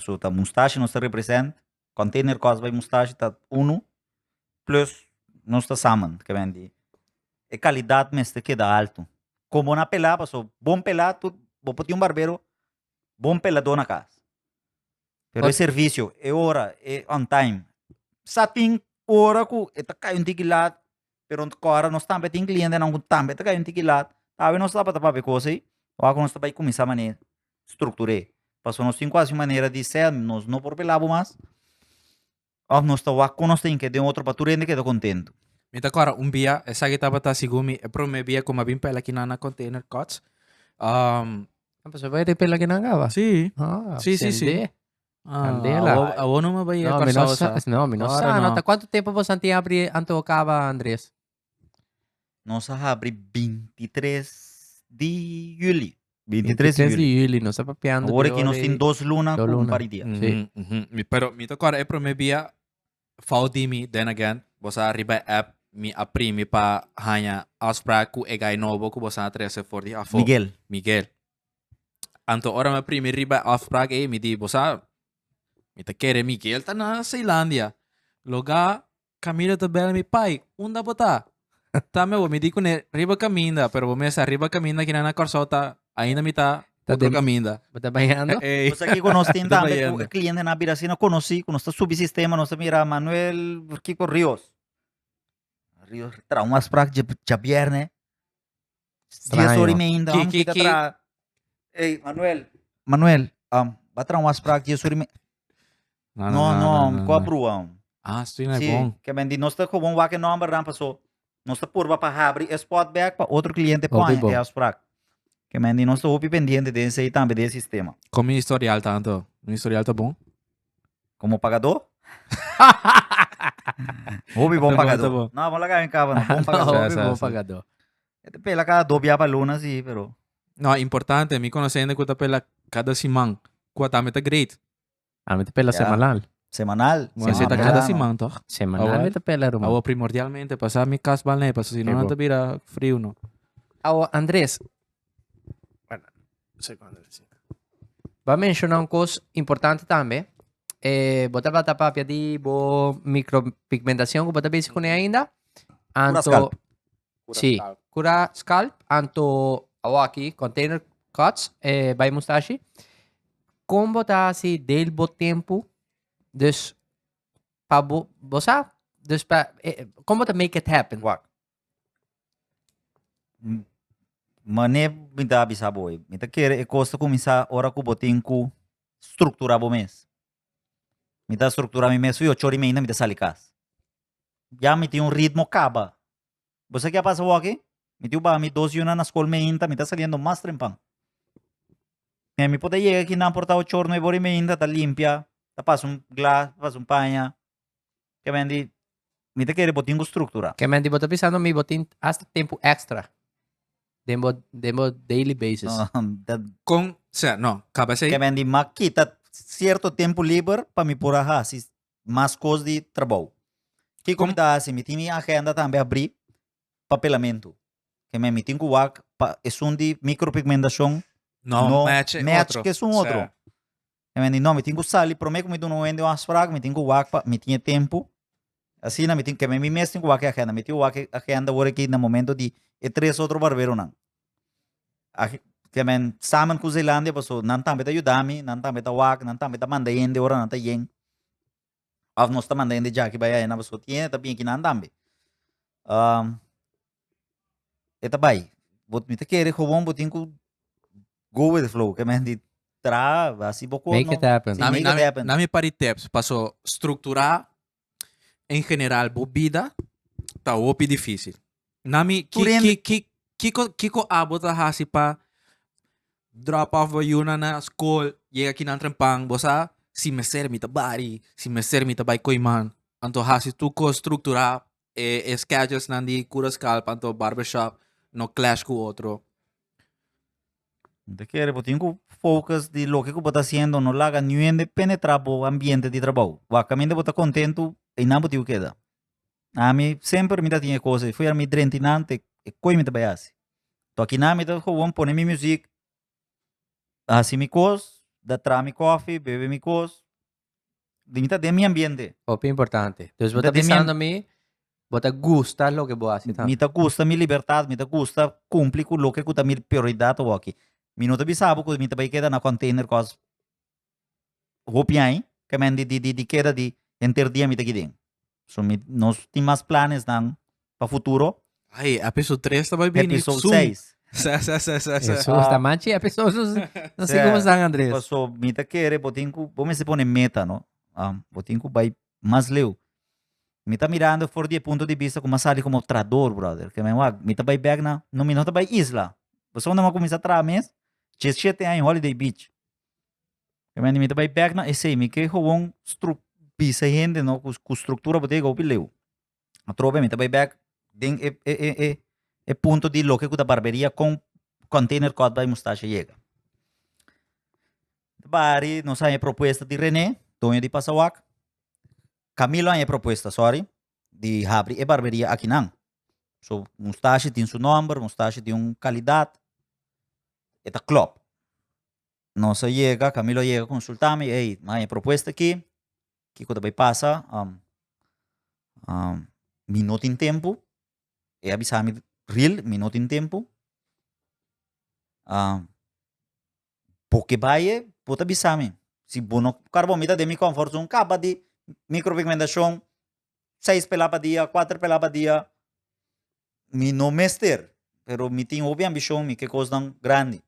so ta mustashi nos ta represent container cos bay mustashi ta uno plus nos ta samen ke men di e calidad mester keda alto con bo na pela pasobra bon pela tut bo por tin un barbero bon pelador na cas pero e servicio e ora e on time sa tin ora cu e ta cay un digilat pero kora nos tambe tin clientenan ku tambe ta kai un tiki lat tawe nos tabata papia cosa ei ora ku nos ta bai kuminsá manera struktur'é paso nos tin ku hasi un manera di sèl nos no por pela bo mas òf nos ta wak kon nos tin ke den otro pa tur hende keda kontentu. Mi ta kòrda un bia esaki tabata segun mi e promé bia ku mi a bin pela kinan na Container Cots Paso bo a bin pela kinan kaba? Sí sí sí sí. Candela. Ah, awor no me voy a no, no, sa, no, mi no sa, no. ¿Cuánto tiempo vos antes abrí anto acaba, Andrés? Nos abrí 23 de julio. 23, 23 de julio, nos está papeando. Ahora que nos tiene dos lunas, dos lunas. un día. Sí. Mm -hmm. Pero mi te acuerdo, el primer día, fout de mi, then again, vos arriba app, mi aprimi pa hanya afspraak ku e guy nobo ku vos a trece for di afo. Miguel. Miguel. Anto ora me primi riba afspraak ei, mi di, bosa, mi ta kere Miguel ta na Seilandia. Loga, Camilo ta bel mi, pai, unda bo ta? Ta me bo, mi di kune, riba kaminda, pero bo mester riba kaminda kina na Kòrsou ta, ainda mi ta Ta otro dem- kaminda. Bo ta bayando? Ei, Bosa ki ku nos tin ta tambe bayendo. ku klientenan a bira asina konosí, ku nos ta subi sistema, nos ta mira Manuel Kiko Rios. Rios trahun afspraak dje djabièrnè. Dies ora y meinda Ki- ki- ki- Ey, Manuel, Manuel, um, va traer un afspraak dies ora y meinda. No, no, um, ko a brua, um. Ah, stoei na Sí, bon. que men di nos te gewoon wak e number dan paso. Nos te purba pa habri e spot back pa otro cliente Hopi pon bon. e afspraak. Que men di nos te hopi pendiente den sei tambe den sistema. Kom mi historial tanto? Mi historial ta bon? Como pagador? Hopi bon pagador. No, bon laga en cabo, no. Bon pagador. Hopi bon pagador. Este pela cada dos bia para luna, sí, pero... No, importante. Mi conoce gente que está pela cada siman. Cuata me está great. A mí te pela semanal. Semanal. Bueno, se está cada siman, toch? Semanal me te pela, rumor. Awa primordialmente, pasa mi cas balne, pasa si no, no te vira frio, no. Awa, Andres, Bo a menciona un cos importante tambe. Eh, bo ta bata papia di bo micropigmentacion cu bo ta bezig cune ainda. Cura scalp. Sí, cura scalp. Anto, awaki, container cuts, eh, bay mustashi. Con bo ta haci deel bo tempo. Dus, pa bo, bo sa, dus pa, eh, con bo ta make it happen. Wak. Mane mi ta bisa bo hoy, mi ta kere e kos ta kuminsá ora ku bo tin ku strukturá bo mes. Mi ta strukturá mi mes, ui ocho ora i meinda mi ta sali kas, ya mi tin un ritmo kaba, bo sa ke a pasa awor aki? Mi tin ku baha mi dos yuna na skol meinta, mi ta saliendo mas trempan, me mi por ta yega aki nan por ta ocho or, nuebe ora i meinda ta limpia, ta pasa un glas, ta pasa un paña, Ke men di, mi ta kere bo tin bo struktura. Ke men di bo ta bisa no mi bo tin hasta tempu ekstra den bo den bo daily basis. No, dat Kon, sea, no, kaba esei. ke men di ma kita sierto tempu liber pa mi por a hasi mas kos di trabou. Kiko mi Kom- ta hasi? Mi tin mi agenda tambe abri pa pelamentu. Ke men mi tin ku wak pa esun di mikropigmentashon No, no match e match otro. kesun otro. Sea, E mi a di, no, mi tin ku sali. Promé ku mi duna un hende un afsprak, mi tin ku wak pa mi tin e tempu. Asina mi tin, keme mi mes tin ku wak e agenda. Mi tin wak e agenda ora ki na momento di e tres otro barberonan. Keme samen ku Zeelandia pasobra nan tambe ta yuda mi, nan tambe ta wak, nan tambe ta manda hende ora nan ta yen. Òf nos ta manda hende djaki bai ayana pasobra tin hende ta bin aki nan tambe. e ta bai. Bo, mi ta kere gewoon bo tin ku go with the flow, ke men di traha, hasi bo kon. Make it happen. Sí, make it happen. Na mi par di tips, paso strukturá en general bo bida ta hopi difísil. Nami, ki, Turende. ki, ki, kiko, kiko abo ta hasi pa drop off bo yuna na school, llega ki nan trempan, bo sa, si mester mi ta bari, si mester mi ta bai koi man, anto hasi tu ko structura e, e schedules nan di cura scalp, anto barbershop, no clash ku otro. Te kere, bo tin ku focus di loke ku bo ta haciendo, no laga niuende penetra bo ambiente di trabou. Wak, caminda bo ta contentu, einan bo tin ku keda. Ami semper mi ta tin e cos ei. Fuera mi drenti nante, e coi mi ta bai haci. To aki nan mi ta gewoon pone mi music, haci mi cos, da tra mi coffee, bebe mi cos, di mi ta den mi ambiente. Hopi importante. Dus bo ta bisando mi, bo ta gusta loke bo haci tambe. Mi ta gusta mi libertad, mi ta gusta cumpli cu loke cu ta mi prioridad awor aki. Mi no ta bisa bo cu mi ta bay keda na container cos hopi ai kemen di di di keda di henter dia mi ta aki den. So mi nos tin mas planesnan pa futuro. Ai, episode 3 ta bai bini. Episode Su. 6. Sa, sa, sa, sa, sa. Eso está más chi episode. No sé cómo están, Andrés. Paso mi ta kere bo tin ku bo mester pone meta, no. Um, bo tin ku bai mas leu. Mi ta mirando for di e punto di vista ku mas sali como trador, brother. Ke men wak, mi ta bai back na, no mi no ta bai isla. Paso unda mi a kuminsá traha mes, 17 aña holiday beach. Amen, mi ta bai bek na esei, mi ke gewoon struk bisa e hende no ku ku struktura bo te go pileu. Atrobe mi ta bai bek den e e e e e punto di loke ku ta barberia kon kontainer kòt bai mustasha yega. Bari nos haña e propuesta di Rene, doño di pasawak, Camilo haña e propuesta, sòri, di habri e barberia aki nan. So mustasha tin su nòmber, mustasha tin un kalidat, e ta klòp. Nos a yega, Camilo a yega consulta mi, ey, mi haya propuesta aki, kico ta bay pasa, mi no tin tempo, e a bisa mi ril, mi no tin tempo, bo ke baye bo ta bisa mi, si bo no car bo a mira den mi comfort zone caba di micro pigmentacion seis pela pa dia cuater pela pa dia mi no mester pero mi tin hopi ambicion mi ke cosnan grandi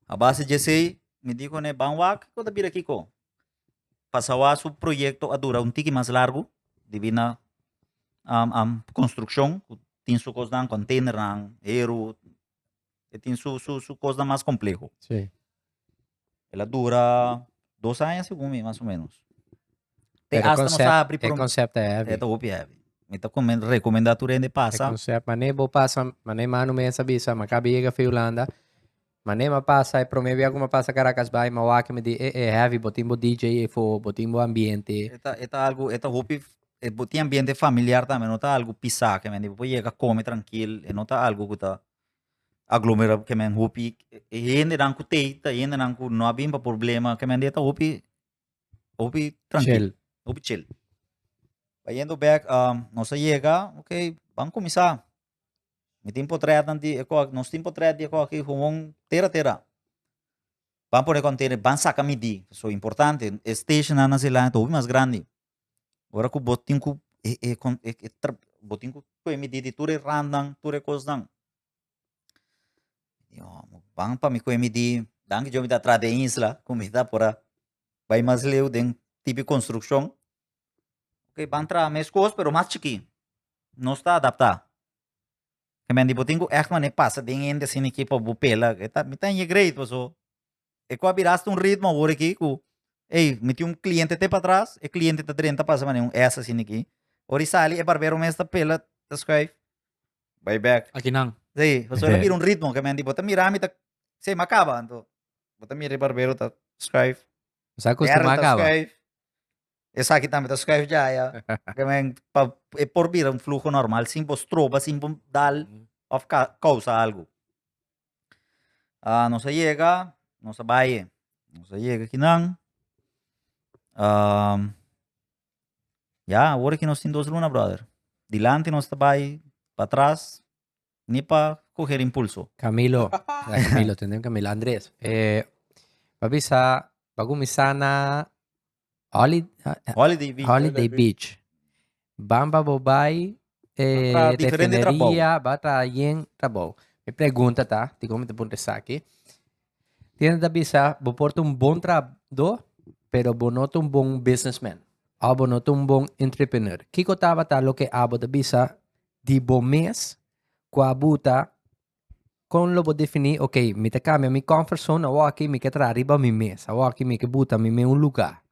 abase dje esey mi dico ne ban wak kico ta bira kico pa sawa su proyecto a dura un tiki mas largu dibi na construccion cu tin su cosnan container nan heru E tin su, su, su cosnan mas compleho. Sí. El a dura dos aña, segun mi, mas o menos. Te Pero hasta nos concept, abri e prom- concept e heavy. Eta hopi heavy. Mi ta komen- recomenda tu rende E pasa. concept, mané bo pasa, mané manu mesa bisa, ma kabi yega fi Hulanda. Mané ma pasa, e prome bia ku ma pasa Caracas bai, ma wak mi di e, e heavy, bo tin bo DJ efo, bo tin bo ambiente. Eta, eta algo, eta hopi E bo tin ambiente familiar tambe no ta algu pisá ke men di bo por yega kome trankil e no ta algu ku ta aglomerá ke men hopi e hendenan ku tei ta hendenan ku no a bin pa problema ke men di e ta hopi hopi trankil hopi chil trayendo bek nos a yega okay ban kuminsá mi tin potrètnan di e kò nos tin potrèt di e kò aki houn tera tera ban pone kòntene ban saka midí so importante e stashonnan nan sedulan ta hopi mas grandi. Ora ku bo tin ku e e e tra bo tin ku kue mi di di tur e rannan tur e kosnan i ome ban pa mi kue mi di dan yo mi ta tra den isla ku mi ta por a bai mas leu den tipo di konstrukshon ok ban traha mes kos pero mas chikí no sta adaptá hemen di bo tin ku ègt mane pasa den hende asina ki pa bo pela mi ta ña grei paso E ku a bira asta un ritmo awor aki ku ey mi tin un kliente te patras, e kliente ta drenta pasa manera un S asina aki. Ora e sali e barbero mes ta pela, ta skuif, bai bek. Akinan. Sí, pasobra lo bira un ritmo ke men di bo ta mira mi ta sey mi a kaba anto bo ta mira e barbero ta skuif, Sa kos Darrel kuma a ta kaba. skuif, esaki tambe ta skuif dja ya. Ke men pa e por bira un fluho normal sin bo stroba, sin bo dal of ka- kousa algu. a nos a yega nos a bai nos a yega aki nan ya awor aki nos tin dos luna brother dilanti nos ta bai patras ni pa coger impulso. Camilo ya Camilo tendem Camilo Andres eh pa bisa pa cuminsa na Holiday, Holiday Beach. Holiday Beach. Bamba bo bai eh, diferente refineria, ba tra yen trabou. Mi pregunta ta, ti como te punta saki. Tiene ta bisa, bo porta un bon trabdo, pero bo no un bon businessman. O bo no un bon entrepreneur. Kiko tabata lo que abo te bisa di bo mes, kua buta Kon lo bo definí, ok, mi ta kambia mi comfort zone, awor aki mi ke traha riba mi mes, awor aki mi ke buta mi mes un lugá.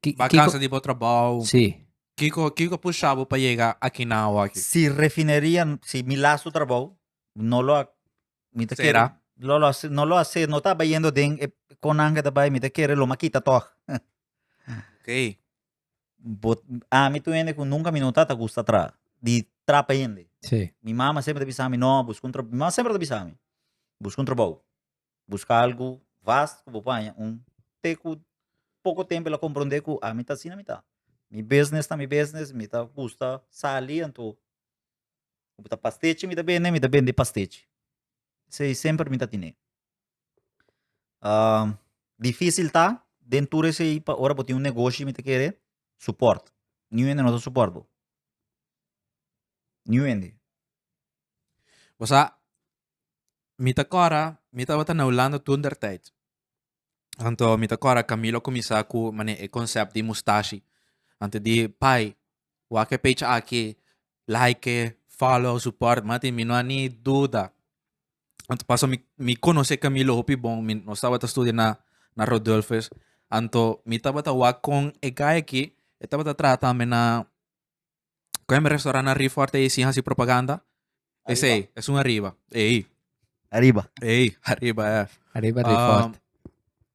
Ki- Ba kiko- kansa di bo trabou. Sí. Kiko kiko pusha bo pa yega akinan awor aki? Si refineria, si mi lastu trabou, no lo a, mi ta Sera. kere, lo lo a se- no lo a se, no ta bayendo den e konnan ke ta bai, mi ta kere lo ma kita tòg. Ok. bo ami tu hende cu nunca mi no ta ta gusta traha di trapa hende si mi mama semper ta bisami no busca un trabou mi mama semper ta bisami busca un trabou busca algu vast cu bo por haña un te cu poco tempo el a comprende cu ami ta asina mi ta mi business ta mi business mi ta gusta sali anto cu ta pastechi mi ta bende mi ta bende pastechi esey semper mi ta tine Uh, difícil ta, den tur ese pa ora bo un negocio mi te kere, support. Niu ende no ta support bo. Niu ende. O sea, mi ta kora, mi ta wata na Holanda toen der tijd. Anto mi ta kora Camilo comisá ku mane e concept di mustashi. Ante di pai, Wak e page aki like e follow support mati mi no a ni duda anto paso mi mi conoce Camilo hopi bon mi nos tabata studia na na Rodulfus anto mi tabata wak con e guy aki e tabata traha tambe na cu hemi restaurant na Riforte e sin hasi propaganda Es ei, es un arriba. Ei. Arriba. Ei, arriba, ja. Arriba um, Refort.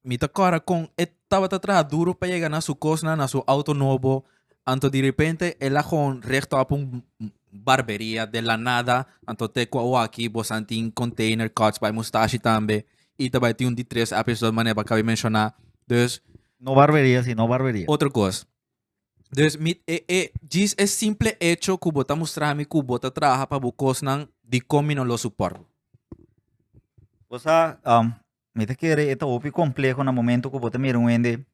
Mi ta cora con e tabata traha duro pa llega na su cosna, na su auto nobo. Anto de repente, el a gewoon recht op un barberia de la nada. Anto te qua waki, bosantin, container, cuts by mustache tambe. Y te tin un di tres episode mané pa cabe menciona. Dus. No barberia, sino barberia. Otro cos. Dus mi e, e, djis e simple echo ku bo ta mustra mi ku bo ta traha pa bo kosnan di kon mi no lo suport bo. Bo sa, um, mi ta kere e ta hopi kompleho na momento ku bo ta mira un hende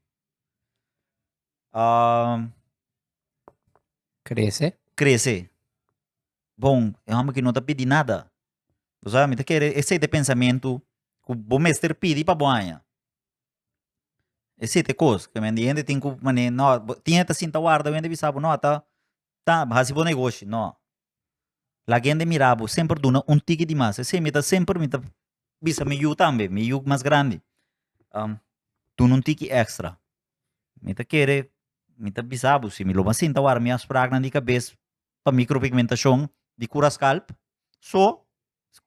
um, Krese. krese. Bon, e home ki no ta pidi nada. Bo sa, mi ta kere e sete pensamentu ku bo mester pidi pa bo haña. E sete kos ke men di hende tin ku mane no tin hende ta sinta warda hende bisa bo no ata ta bo hasi bo negoshi no laga hende mira bo semper duna un tiki di mas esei mi ta semper mi ta bisa mi yu tambe mi yu mas grandi duna un tiki extra mi ta kere mi ta bisa bo si mi lo ba sinta warda mi a sprak nan di kabes pa mikropigmentashon di kura skalp so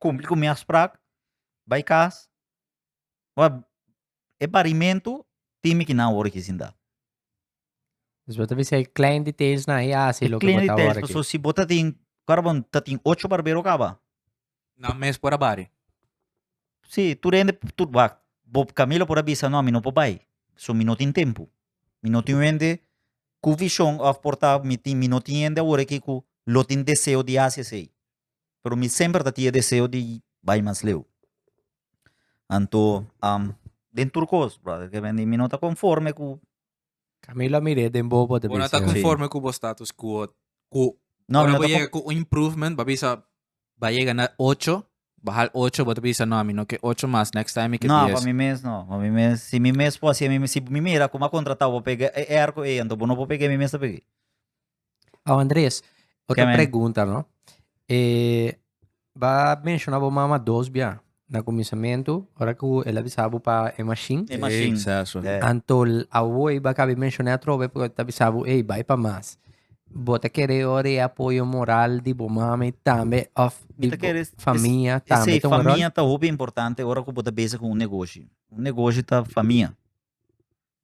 kumpli ku mi afsprak bai kas Ora e parimentu tin mi kinan wor hizindá. Dus bo ta bisa e klein details nan e hasi loke bo ta wor aki. So si bo tatin karabon tatin ocho barbero kaba. Nan mes por a bari. Si tur hende tur wak bo Camilo por a bisa no mi no por bai so mi no tin tempu mi no tin wende ku vishon of por ta mi tin mi no tin hende awor aki ku lo tin deseo di hasi esei. pero mi semper ta tin e deseo di bai mas leu. Anto den tur cos, brother, ke men di mi no ta conforme cu Camilo a mir'é den bobo ta Bo no ta bisa. conforme cu bo status quo. Cu No, mi ora no bo ta yega con- cu un improvement, bo a bisa, ba yega na ocho, bo hal ocho, bo ta bisa, no, mi no ke ocho mas, next time mi ke No, dies. pa mi mes no. Pa mi mes, si mi mes por haci mi mes, si mi mira como a contratado, bo pega e erco ey, anto bo no por pega mi mes ta peg'é. Oh, Andres, otra pregunta, no? Eh, va mencionar bo mama dos bia. Na comienzamento, ahora que el avisaba pa e machine. E machine. Exacto. Yeah. Antol, awoi, va cabe mencionar trobe, porque te avisaba, hey, vai pa mas. Bota querer ora e apoyo moral di bo mama tambe, of di bo familia tambe. Sí, familia ta hopi importante ora que bo ta bezig con un negocio. Un negocio ta familia.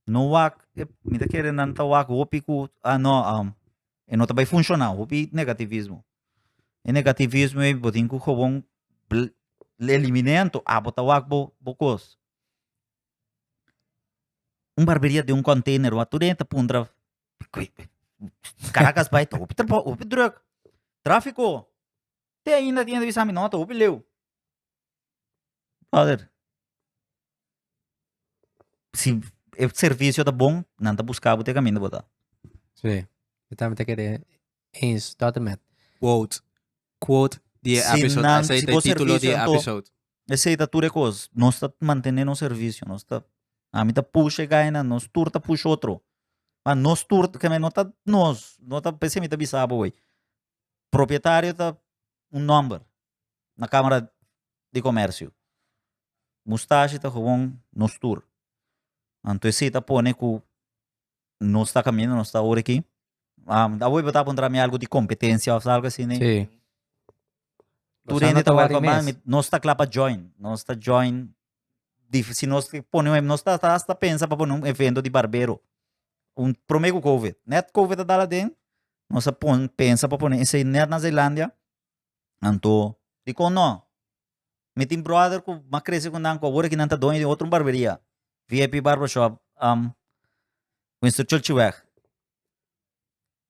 no wak ep mi ta kere nan ta wak hopi ku ah no um e no ta bai funshona hopi negativismo e negativismo ei bo tin ku kobon le elimine anto a bo ta wak bo bo kos un barberia den un konteiner wa tur dei ta puntra karakas bai ta hopi hopi druk trafiko te ainda tin a bisa mi no ta hopi leu brother si e servicio ta bon nan ta busca bo te caminda bo ta. Sí, yo también te quedé eens tot en met. Quote. Quote di e Si episode. nan- Ese si es bo el título di servicio e anto- episode. Ese ta tur e cos. Nos ta mantene nos servicio. Nos ta, ami ta push e gainan, nos tur ta push otro. Ma nos tur, ke me no ta nos, no ta, p'esei mi ta bisa bo ey, propietario ta un nomber, na Kamara di Komersio. Mustashi ta gewoon nos tur. Anto esei ta pone ku nos ta kaminda, nos ta orekí. Awe bo ta puntra mi algu di kompetensia òf algu asina? Sí. Tur hende ta wak fama, nos ta kla pa join. Nos ta join, si nos pone un, nos ta hasta pensa pa pone un evento di barbero. Un, promé ku kovid. Nèt kovid a dal aden, nos a pon pensa pa pone esei nèt na Zeilandia. Anto, dikon no? Mi tin bròder ku mas krese ku nan ku awor aki nan ta doño di un otro barberia, VIP Barbershop, um, Winston Churchillweg.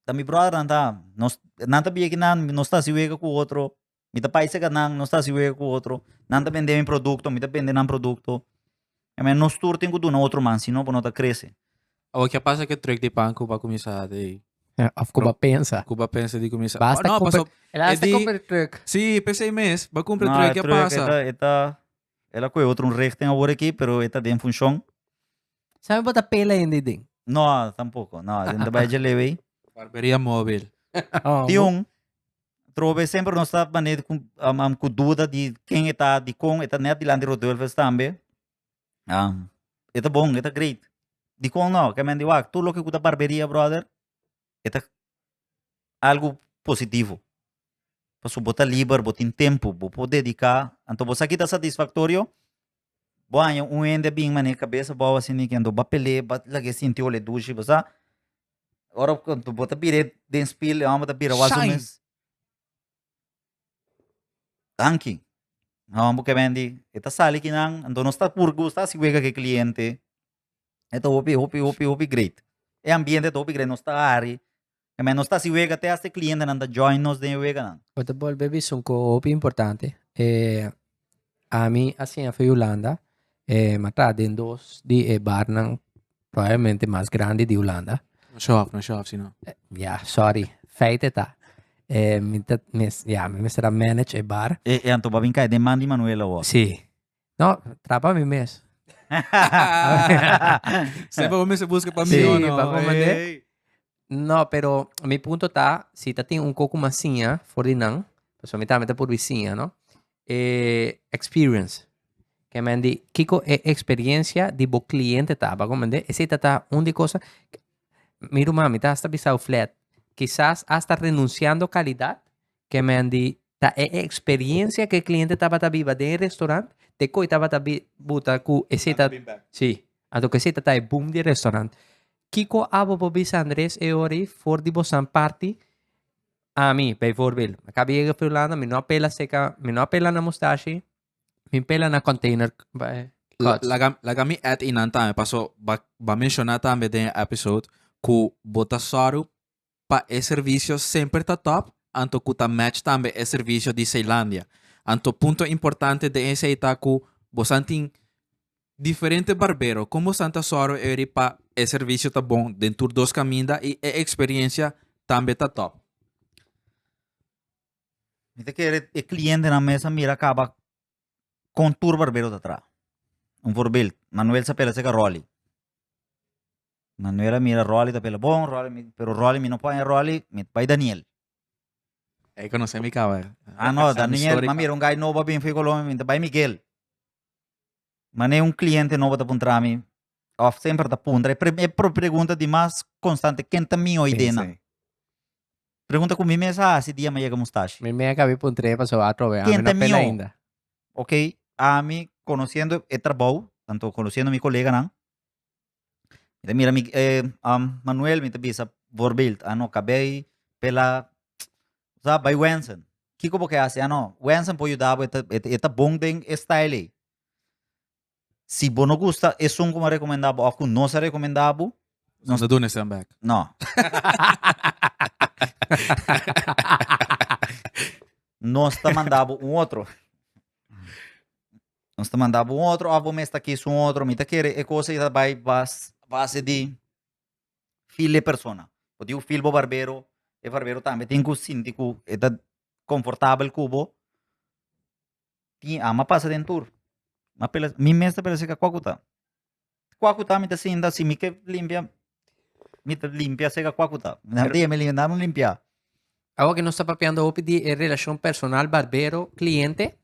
Ta mi bròdernan ta, nos, nan ta bieki nan, nos ta hasi wega ku otro, mi ta paisega nan, nos ta hasi wega ku otro, nan ta bende mi produkto, mi ta bende nan produkto. Amén. Nos tur tin ku duna otro man sino pa no ta krese. Awa kia pasa ke trek di pan ku ba kuminsá di Of ku ba pensa. ku ba pensa di kuminsá. Ba hasta No, kumpra- pasó El hasta Edi- compra el truck. Si, p'esei mes ba kumpra No, trek e kia trek, pasa. e ta- e ta el a kohe otro un richting awor aki pero e ta den funshon. Sabe bo ta pela hende den. No, tampoko. No, den ta bai dje lewe ei. Barberia mobil. Tin un Trobe bes semper nos ta manera ku um, ku duda di ken e ta, di kon e ta net dilanti Rodulfes tambe. Um, e ta bon, e ta great. Di kon no, ke men di wak, tur loke ku ta barberia brother, e ta algu positivo. Pasobra bo ta liber, bo tin tempu, bo por dedica, anto bo sa ki ta satisfactorio, Bo a haña un hende a bin manera e kabes abou asina i kendo ba pel'é, ba laga e sinti ol'é dushi, bo sa. Ora ku bo ta bira den spil e hòmber ta bira wak su mes. Danki. E hòmber ku a bendi e ta sali ki nan, anto nos ta puru gusta si wega ku e kliente. E ta hopi, hopi, hopi, hopi great. E ambiente ta hopi great, nos ta hari. E men nos ta hasi wega te hasta e clientenan ta join nos den e weganan. Bo ta bolbe bisa un coho hopi importante. E ami a siña for Hulanda, e m'a traha den dos di e barnan probablemente mas grandi di Hulanda. No show off, no show off si no. Ya, sorry. Feite ta, e mi ta mes, ya, mi mester a manage e bar. E, e anto bo a bin kai den man di Manuel awor? Si. No, tra pa mi mes. Sey pa bo mester busca pa mi Sí, o no. pa bo mande. Ey. No, pero mi punto ta, si ta tin un coco mas siña for di nan, pasobra mi tambe ta por bai siña, no? E experience. Ke men di, kiko e experiencia di bo cliente ta, pa bo mande? Esey ta ta un di cosa, mi ruman, mi ta hasta bisa bo flat, kisas hasta renunciando calidad, Kemen di ta e experiencia ke cliente tabata biba den e restaurant te koe tabata bi buta ku esei ta si anto ku esei ta ta e boom di restaurant. Kiko abo por bisa Andres e ora ei for di bosan parti ami bijvoorbeeld mi akaba yega fi Hulanda mi no a pela seka mi no a pela na mustashi mi pela na container cuts. Laga laga mi add inan tambe paso ba ba menciona tambe den e episode ku bo ta sòru pa e servicio semper ta top anto cu ta match tambe e servicio di Zeelandia. Anto punto importante den esey ta cu bosan tin diferente barbero. Con bosan ta zorgo eri pa e servicio ta bon den tur dos caminda y e experiencia tambe ta top. Mi ta kere e clientenan mes a mira caba con tur barbero ta traha. Un voorbeeld, Manuel Sapela Segarolli. Manuela mira Rolly ta pela bon Rolly pero Rolly mi no por aña Rolly mi ta bai Daniel. Ey conoce mi caba. Ah no Daniel mi a mira un guy nobo a bini for di Colombia mi ta bai Miguel. Manera un cliente nobo ta puntra mi of semper ta puntra e primer pregunta di mas constante ken ta mi oy dena. Pregunta cu mi mes a haci dia mi a yega mustashi. Mi mes a cabi puntre paso atrobe ami no a pela ainda. Ken ta mi o. Ok ami conociendo e trabou tanto conociendo mi coleganan Mi ta mira mi, eh, um, Manuel, mi ta bisa, voorbeeld, ano, kabei, pela, sa, bai Wensen. Kiko bo ke hasi? Ano, Wensen por yuda bo, e ta, e ta, e ta bon den e stijl ei. Si bo no gusta esun ku mi a rekomendá bo, òf ku nos a rekomendá bo, Nos a duna e send back. No. Nos ta manda bo un otro. Nos ta manda bo un otro of bo mes ta kis un otro. Mi ta kere e cosa ta bai bas base di feel e persona. Bo tin ku feel bo barbero, e barbero tambe tin ku sinti ku e ta confortabel ku bo. Tin ama pasa den tur. Mi mes ta pela si ka koku ta. Kua ku ta mi ta sinta si mi ke limpia mi ta limpia seka kua ku ta nan dia mi nan lo limpia. Awo ke nos ta papiando hopi di e relashon personal barbero kliente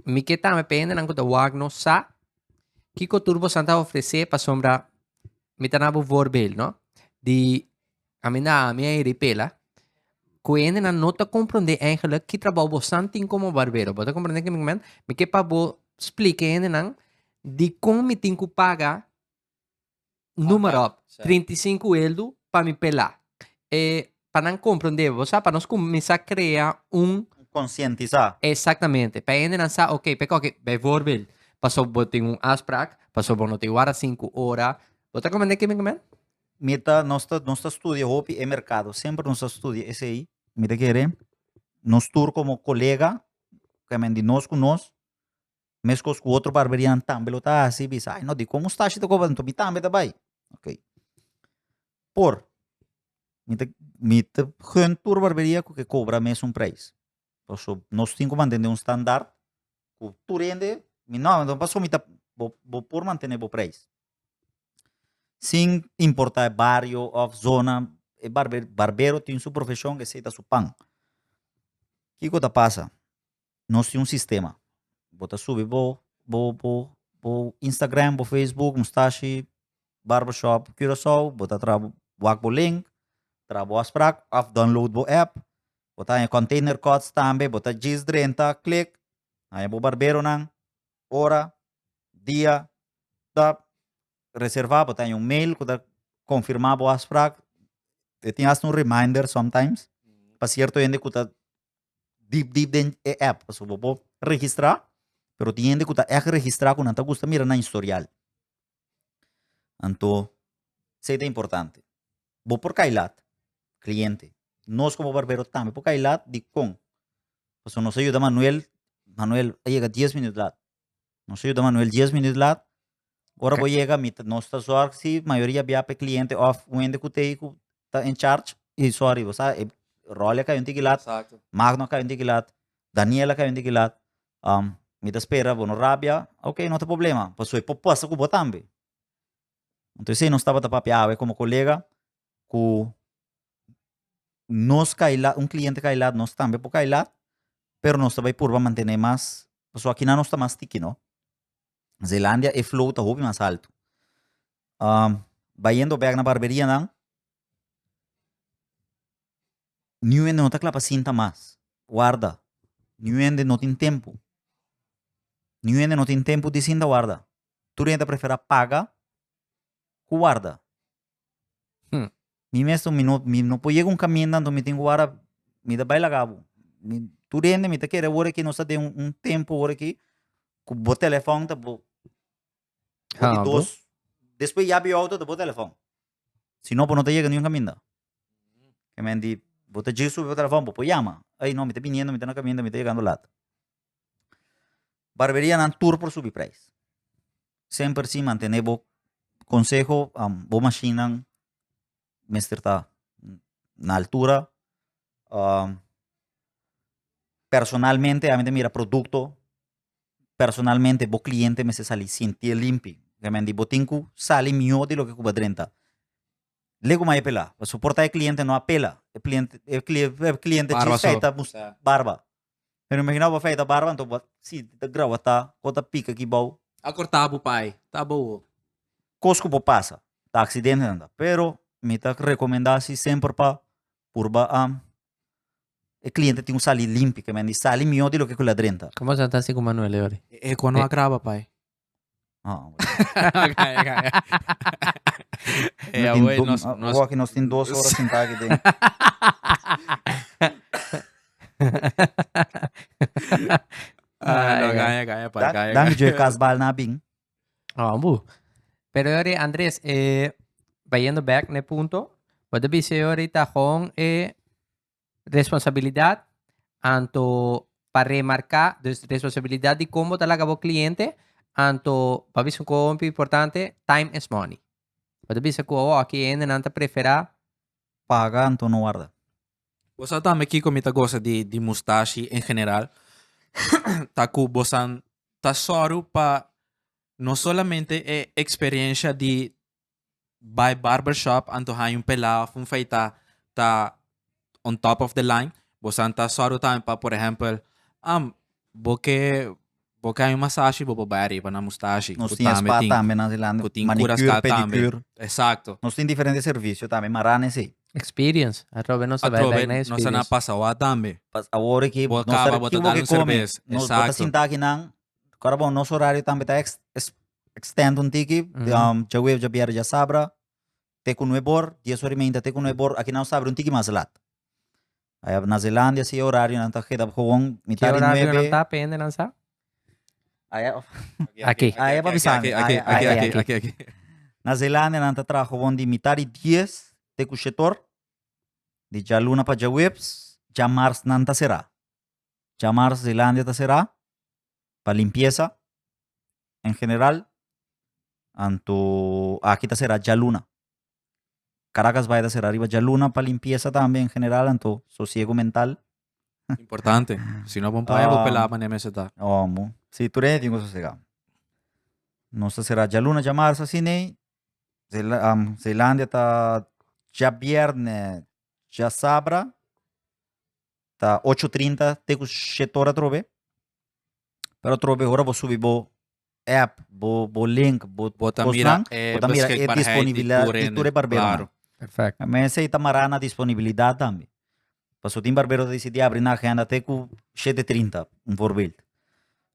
mi ke tambe pa hendenan ku ta wak nos sa kiko tur boso a ofrese pasobra mi ta na bo voorbeeld no di Aminá ami a ripela ku hendenan no ta komprondé eigenlijk ki trabou bosan tin komo barbero. Bo ta komprendé kende men? Mi ke pa bo splike hendenan dikon mi tin ku paga numer op, 35 eldu pa mi pelá. E pa nan komprondé, bo sa, pa nos kuminsá krea un. Konsientisá. Exactamente. Pa hendenan sa, oké, p'e koki, bijvoorbeeld, paso bo tin un afsprak, paso bo no tin wara sinku ora. Bo ta komprendé kende men? Mi ta nos ta nos ta studia hopi e merkado semper nos ta studia esei mi ta kere nos tur komo kolega kemen di nos ku nos meskos ku otro barberian tambe lo ta hasi bisa ai no diko mustashi ta koba enton mi tambe ta bai okay por mi ta mi ta gun tur barberia ku ke kobra mesun preis paso nos tin ku mantene un standar ku tur hende mi no paso mi ta bo bo por mantene bo preis Sin importa e bario of zona e barber barbero tin su profesion esey ta su pan kico ta pasa nos tin un sistema bo ta subi bo bo bo bo instagram bo facebook mustashi barber shop curacao bo ta tra wak bo link tra bo afsprak of download bo app bo ta haya container cuts tambe bo ta djis drenta click haya bo barberonan ora, dia, ta reserva bo ta un mail ku ta konfirma bo afsprak e tin asta un reminder sometimes pa sierto hende ku ta dip dip den e app pasobra bo por registra pero tin hende ku ta èk registra ku nan ta gusta mira nan historial. Anto, esei ta importante. Bo por kai lat, kliente. Nos komo barbero tambe por kai lat, dikon? Pasobra nos a yuda Manuel, Manuel a yega dies minüt lat. Nos a yuda Manuel dies minüt lat, ora bo yega mi ta, nos ta zòrg si mayoria biaha pa e kliente òf wende ku tei ku ta en charge, i sòri bo sa e Rolly a kai un tiki lat, Magno a kai un tiki lat, Daniel a kai un tiki lat, Um, mi ta spera bo no rabia. Ok, no ta problema, paso e popuesta cu bo tambe. Entonces, sei nos tabata papia awe como colega, cu nos kai lat, un cliente kai lat, nos tambe por kai lat, pero nos ta bay purba mantene mas, paso akina nos ta mas tiki, no. Zeelandia e flow ta hopi mas alto. Um, bayendo bek na barberienan, Niuende no ta kla pa sinta mas. Warda. Niuende no tin tempu. Niuende no tin tempu di sinta warda. Tur hende ta prefera paga ku warda. Hm. Mi mes mi no mi no por yega un kaminda anto mi tin ku warda mi ta bai laga bo. Mi tur hende mi ta kere wor aki nos ta den un tempu wor aki ku bo telefòn ta bo. Bo di dos despues yabi outo ta bo telefòn. Si no, bo no ta yega niun kaminda. Ke men di, bo ta djis subi pa telefòn, bo por yama. Ey, no, mi ta biniendo, mi ta na kaminda, mi ta yegando lat. Barberianan tur por subi preis. Semper si mantené bo konseho, bo mashinnan mester ta na altura. Personalmente, ami ta mira produkto personalmente bo cliente mester sali sinti e limpi remende bo tin cu sali miho di loke cu bo a drenta le cu mai e pela pasobra por ta e cliente no a pela e cliente e cliente dje fey ta bus barba pero imagina bo fey ta barba anto bo a sinti ta grawata o ta pica aki bao a corta bo pai ta bowo cos cu por pasa ta accidentenan ta pero mi ta recomenda si semper pa purba a E cliente tin un sali limpi ke men di sali mihó di loke ku ladren ta. Como asina ta hasi ku Manuel e ori? E eko no a graba pai. Ah, E a wei nos nos Rocky nos tin dos horas sentá aki den. Ah, no, gaya, gaya, pai, gaya, Dan gaya. Joe Casbal na a bin. Abu. Pero yori Andres, eh, bayendo back ne punto, wat de bise yori ta gewoon eh responsabilidad anto pa remarca, dus responsabilidad di combo ta laga bo cliente, anto pa bise gewoon pi importante, time is money. Wat de bise cu awo aki hende nan ta prefera. Paga anto no warda. Bo sa tambe kiko mi ta gosa di di mustashi en general ta ku bosan ta sòru pa no solamente e eksperensha di bai barber shop anto haña un pelá òf un feitá ta on top of the line bosan ta sòru tambe pa por ehèmpel bo ke Bo ken un masashi bo por bai ariba na mustashi. Nos tin spa tambe nan Zeeland. Ku tin cura ska tambe. Exacto. Nos tin diferente servicio tambe mara na esei. Experience. Atrobe nos a bai bek na experience. Atrobe nos a na pasa wak tambe. Pas awor ki bo ta riba kibo ke komi. Nos bo ta sinta aki nan. Kora bon nos horario tambe ta extend un tiki. Djaweef, djabièrnè, djasabra. te ku nue bor, dies ora i meinta te ku nue bor, aki nan sabri un tiki mas lat. Ayab na Zelandia si e orario nan ta keda gewoon mitá di nuebe. Ki orario nan ta p'e hende nan sa? Ayab Aki. Ayab a bisami. Aki, aki, aki, aki, aki, aki. Na Zelandia nan ta traha gewoon di mitá di dies te ku shet or, di djaluna pa djaweps, djamars nan ta será. Djamars Zelandia ta será, pa limpiesa en general anto aki ta será djaluna. Caracas Bay ta será riba djaluna pa limpiesa tambe en general anto sosiego mental. Importante. Si no bon playa, bo pelaba ne mesa ta. Omo. Si tur hende tin ku sosega. Nos ta será djaluna dja marsa si nei. Zeila- am, Zeilandia ta dja bierne dja sabra. ta 8.30 te ku 7 ora trobe. Pero trobe hora bo subi bo app, bo, bo link, bo, bo ta mira e bo ta mira e disponibilidad di tur e barbero. Claro. Perfect. En mes ei ta mará na disponibilidad tambe. Paso tin barbero ta disidí abri nan agenda te ku 7.30, un voorbeeld.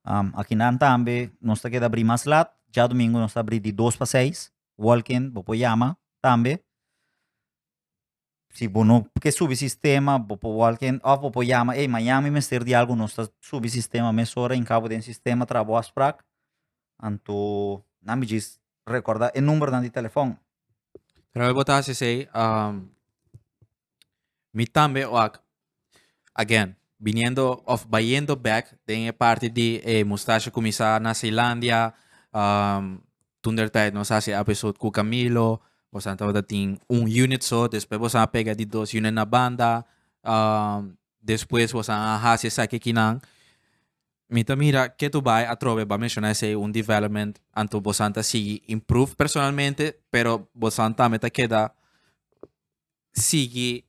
Um, akinan tambe nos ta keda abrí mas lat, djadumingu nos ta abrí di dos pa seis, walk-in, bo por yama tambe. Si bo no ke subi sistema bo por wòl ken òf bo por yama ey mañana mi mester di algu nos ta subi sistema mesora en kabo den sistema traha bo afsprak anto nan mi djis rekorda e numbernan di telefòn. Terwijl bo ta hasi esei mi tambe wak Again, biniendo of bayendo back den e parti di e mustache kumisa na Zeelandia, um, tun der tijd nos hasi a episode ku Camilo, bosan tabata tin un unit so, despues bosan a pega di dos unit na banda, um, despues bosan a hasi esaki kinan, mi ta mira ke tu bai atrobe ba menciona esei un development anto bosan ta sigui improve personalmente, pero bosan tambe ta keda sigui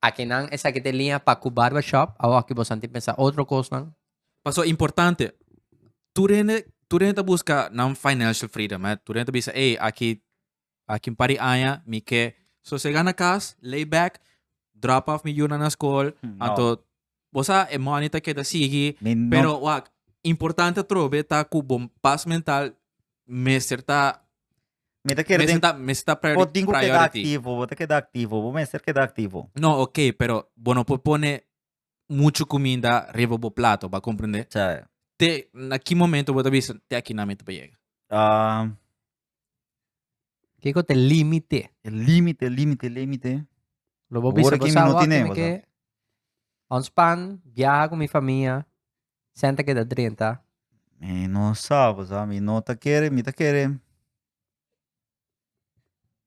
Akinan esaki ta e liña pa ku barba shop a hoki bo santi pensa otro kosnan. Paso importante, tur hende tur hende ta buska nan financial freedom eh, tur hende ta bisa ey aki aki un par di aña mi ke sosega na kas, lay back, drop off mi yu nan na skol, anto Bo sa, e money ta keda sigui, Mi no- pero wak, importante atrobe ta ku bo pas mental mester ta, Mi ta kere mester den... ta, mester ta priori- Bo tin ku keda priority. aktivo, bo ta keda aktivo, bo mester keda aktivo. No, ok, pero bo no por pone muchu kuminda riba bo plato, bo a komprende? Cha. Te, na ki momento bo ta bisa, te akinan mi ta pa yega? Ah, Kiko te límite? E límite, límite, límite. Lo bo bisa que no tiene que on span viaja con mi familia, senta que da drenta. Mi no sabe, sa mi no ta kere, mi ta kere.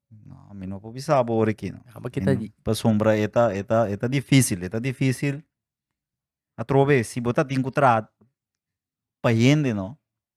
No, mi no po bisa bore ki no. Aba kita di. Pa sombra eta eta eta difícil, eta difícil. Atrobe si bota tin contrat pa yende no.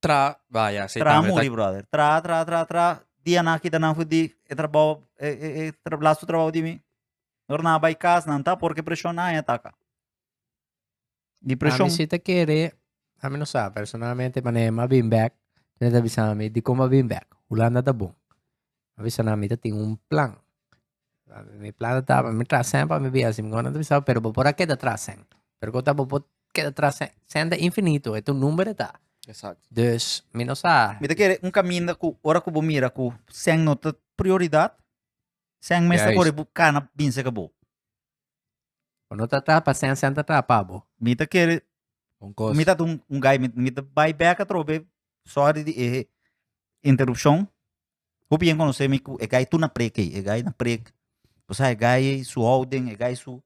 Tra, ah, ya, sí, Tra también, muri, ta- brother. Tra, tra, tra, tra. Dia na kita nan fu di e trabao, e, e, e tra, lastu trabao di mi. Dorna bai kas nan ta porque presión na haña taka. Di A presión. mi si ta kere, a mi no sa, personalmente, mane a bin back, mi ta bisa mi, dikon bo a bin back? Hulanda ta bon. a bisa nan mi ta tin un plan. Mi plan ta tapa mi traha sèn pa mi biaha si mi nguna ta bisau pero bo por a keda traha sèn. Pero kota bo por keda traha sèn? Sèn ta infinito, e ta un number e ta. Exacto. Dus mi no sa. Mi ta kere un kaminda ku ora ku bo mira ku sèn no ta prioridad, sèn mester Juist. kore bu kana binse ka bo. Bo no ta tra, pasensia no ta tra pa bo. Mi ta kere, Un kos. mi ta un, un guy, mi, mi ta bai bek atrobe, sorry di e interruption. Bo bien conoce mi cu e guy tu na preek ei, e guy na preek. Bo sa e guy su houden, e guy su,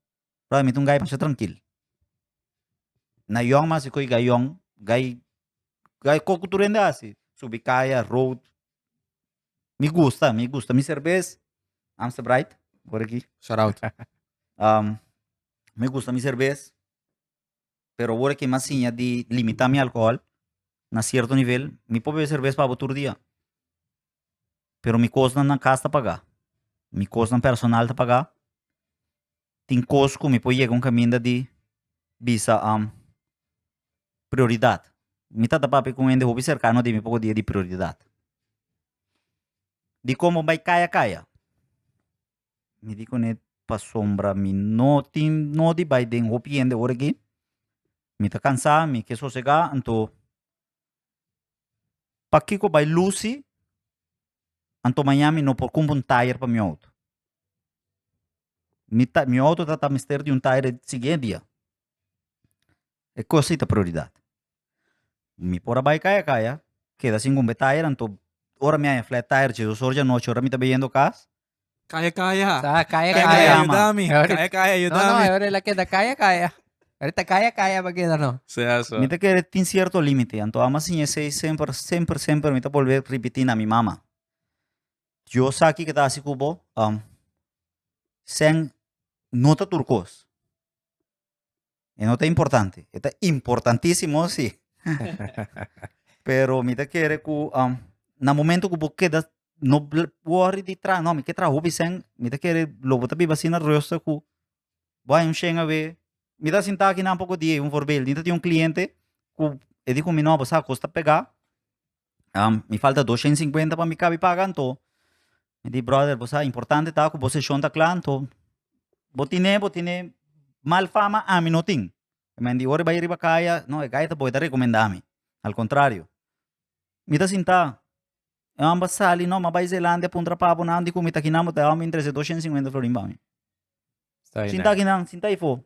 brother mi ta un guy masha trankil. Na yong ma asiko e guy yong, guy, guy koku tur hende a hasi, subi kaya, road, Mi gusta, mi gusta. Mi cerveza, Amstel Bright, por aquí. Shout out. Um, mi gusta mi cerveza, pero ahora que más siña de limitar mi alcohol, na cierto nivel, mi puedo beber cerveza para todo día. Pero mi cosa na casa ta paga. Mi cosa personal ta paga. Tin cos que mi puedo llegar un caminda de bisa, um, prioridat. Mi ta ta papia ku un hende hopi serkano di mi poko dia di prioridat. Dikon bo bai kaya kaya? Mi di kuné, Pasobra mi no tin no di bai den hopi hende ora aki, mi ta kansa, mi ke sosegá, anto pakiko bai lusi anto maña mi no por kumpra un tayer pa mi outo? Mi ta mi outo ta ta mester di un tayer e siguiente dia, E cos ei ta prioridad. Mi por a bai caya caya, keda sin cumbe tire, anto ora mi a haña flat tire dje dos ora dje anochi, ora mi ta bai yendo cas, Caya caya. Sa caya Caya caya. caya, man. ayudami. Ahorita- Caya caya, No, no, ayudami. ahora el a keda caya caya. Ahorita caya caya va keda no. Sí, eso. mi ta kere tin cierto limite, anto ama siña esey semper, semper, semper mi ta bolbe ripiti na mi mama, yo sa kico ta haci cu bo, am, sèn no ta tur cos, E no ta importante. E ta importantísimo, sí. Pero mi ta kere ku um, na momento ku bo keda no bl- worry di tra, no, mi ke traho bisen, mi ta kere lo bo ta biba asina rusta ku bo hay un shen a we. Mi ta sinta aki nan poko di, un voorbeeld, mi ta tin un cliente ku e di ku mi no, bo sa kos ta pega, Am, mi falta doshen sinkuenta pa mi kabi paga, anto mi di, brother, bo sa, importante ta ku bo seshon ta kla, anto bo tine, bo tine mal fama, ami no tin. E men di, ora e bai riba kaya, no, e gaitas bo e ta rekomendá mi. Al kontrario. Mi ta sintá, e hòmber a sali, no, mi a bai Zelandia a puntra pa bonan dikon mi ta aki nan, bo ta hòmber intrese doshen sinkuenta florin pa mi. Sintá aki nan, sintá aifó.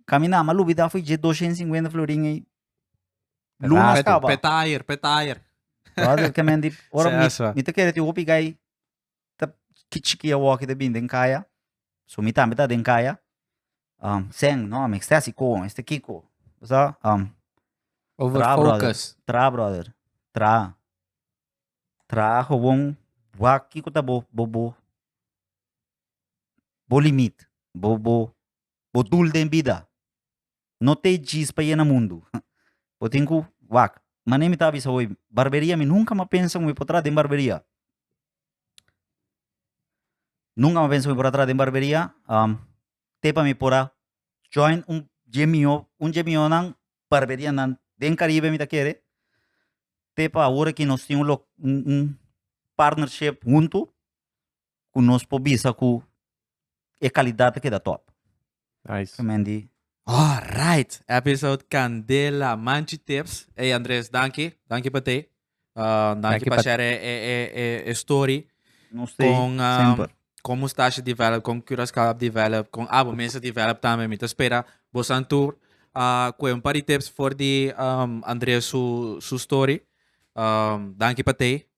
Kaminá, m'a lubidá fo'i dje doshén sinkuenta florin ei. Ratu. Lunas kaba. Petair, petair. Brother, ke men di, ora mi, Sesa. mi ta kere tin hopi gai ta kichiki awòkida bin den kaya, so mi tambe ta den kaya, um, sèn, no, mi strèsi kon, esta kiko, bo sa, um, Over Tra, brother. focus. Tra, brother. Tra. Tra gewoon wak kiko ta bo, bo, bo, bo limit. Bo, bo, Bo dul den bida. No te djis pa yena mundu. Bo tin cu, wak, mane mi ta bisa bo hoy, barberia mi nunca m'a pensa cu mi por tra den barberia. Nunca m'a pensa cu mi por a tra den barberia, um, te pa mi por a join un dje miho, un dje mihonan barberianan den Caribe mi ta kere, te pa awor aki nos tin un lo- un- un partnership huntu, ku nos por bisa ku e kalidat ta keda tòp. Nice. Tremen di Alright, episode candela manchi tips. Ey Andres, danki, danki pa te. Uh, danki Danki pa pa- share e, e, e, e story. nos te Con, um, semper. con Mustache Develop, con Curaçao Develop, con Abo Mesa Develop también. Mi te espera vos aan tour. Uh, kue un par di tips voor di um, Andres su, su story. Um, danki pa te.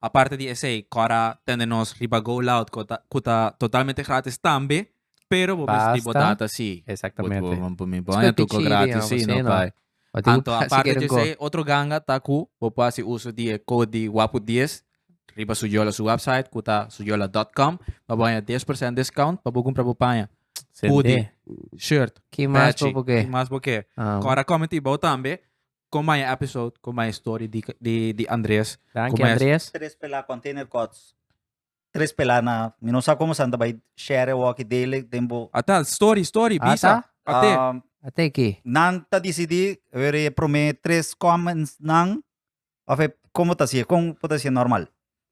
Aparte di esey, cor a tende nos riba Go Loud cu ta, cu ta totalmente gratis tambe, pero bo mester di bo Basta. data si. Bo, Exactamente. bo, bo mi boña Espe tucu pichiri, gratis no, si, no asina. bai. Bo tin cu Anto, pasa aparte quier di un go. esey, otro ganga ta cu bo por haci uso di e code di Wapu Dies riba su yola su website cu ta suyola.com pa boña dies por cent discount pa bo cumpra bo paña, Sende. hoodie, shirt, Ki mas bo patchy, bo ke? ki mas bo ke. Ah. Cor a comenti bo tambe, Con maya episode, con maya story di di di Andreas. Danki Con maya- Andreas. Tres pela container cots. Tres pela na mi no sa como sa tabay share walkie daily den bo. Ata story story Ata? bisa. Ate. Ah, Ate ki. nan ta decidi wer e prome tres comments nan of e como ta si e con por ta si e normal.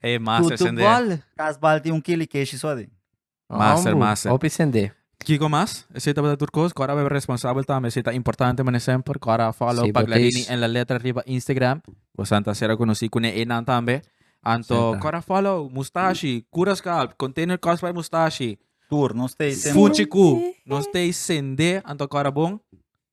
Hey, master, Tutu sende. bal. Kas bal tin un kili keshi so adin. Master, Ambu, master. Hopi sende. Kiko mas? Esei tabata tur kos ku Arabia responsabel tambe. Esei ta importante mané semper ku Ara follow Sí, Paglarini Boteis. en la letra riba Instagram. Bo san ta ser akonosí ku ne einan tambe. Anto Senta. ku Ara follow Mustashi, Kura Scalp, Container Cosplay Mustashi, Tur, nos te sende. Fuchi ku nos te sende anto ku Ara bon.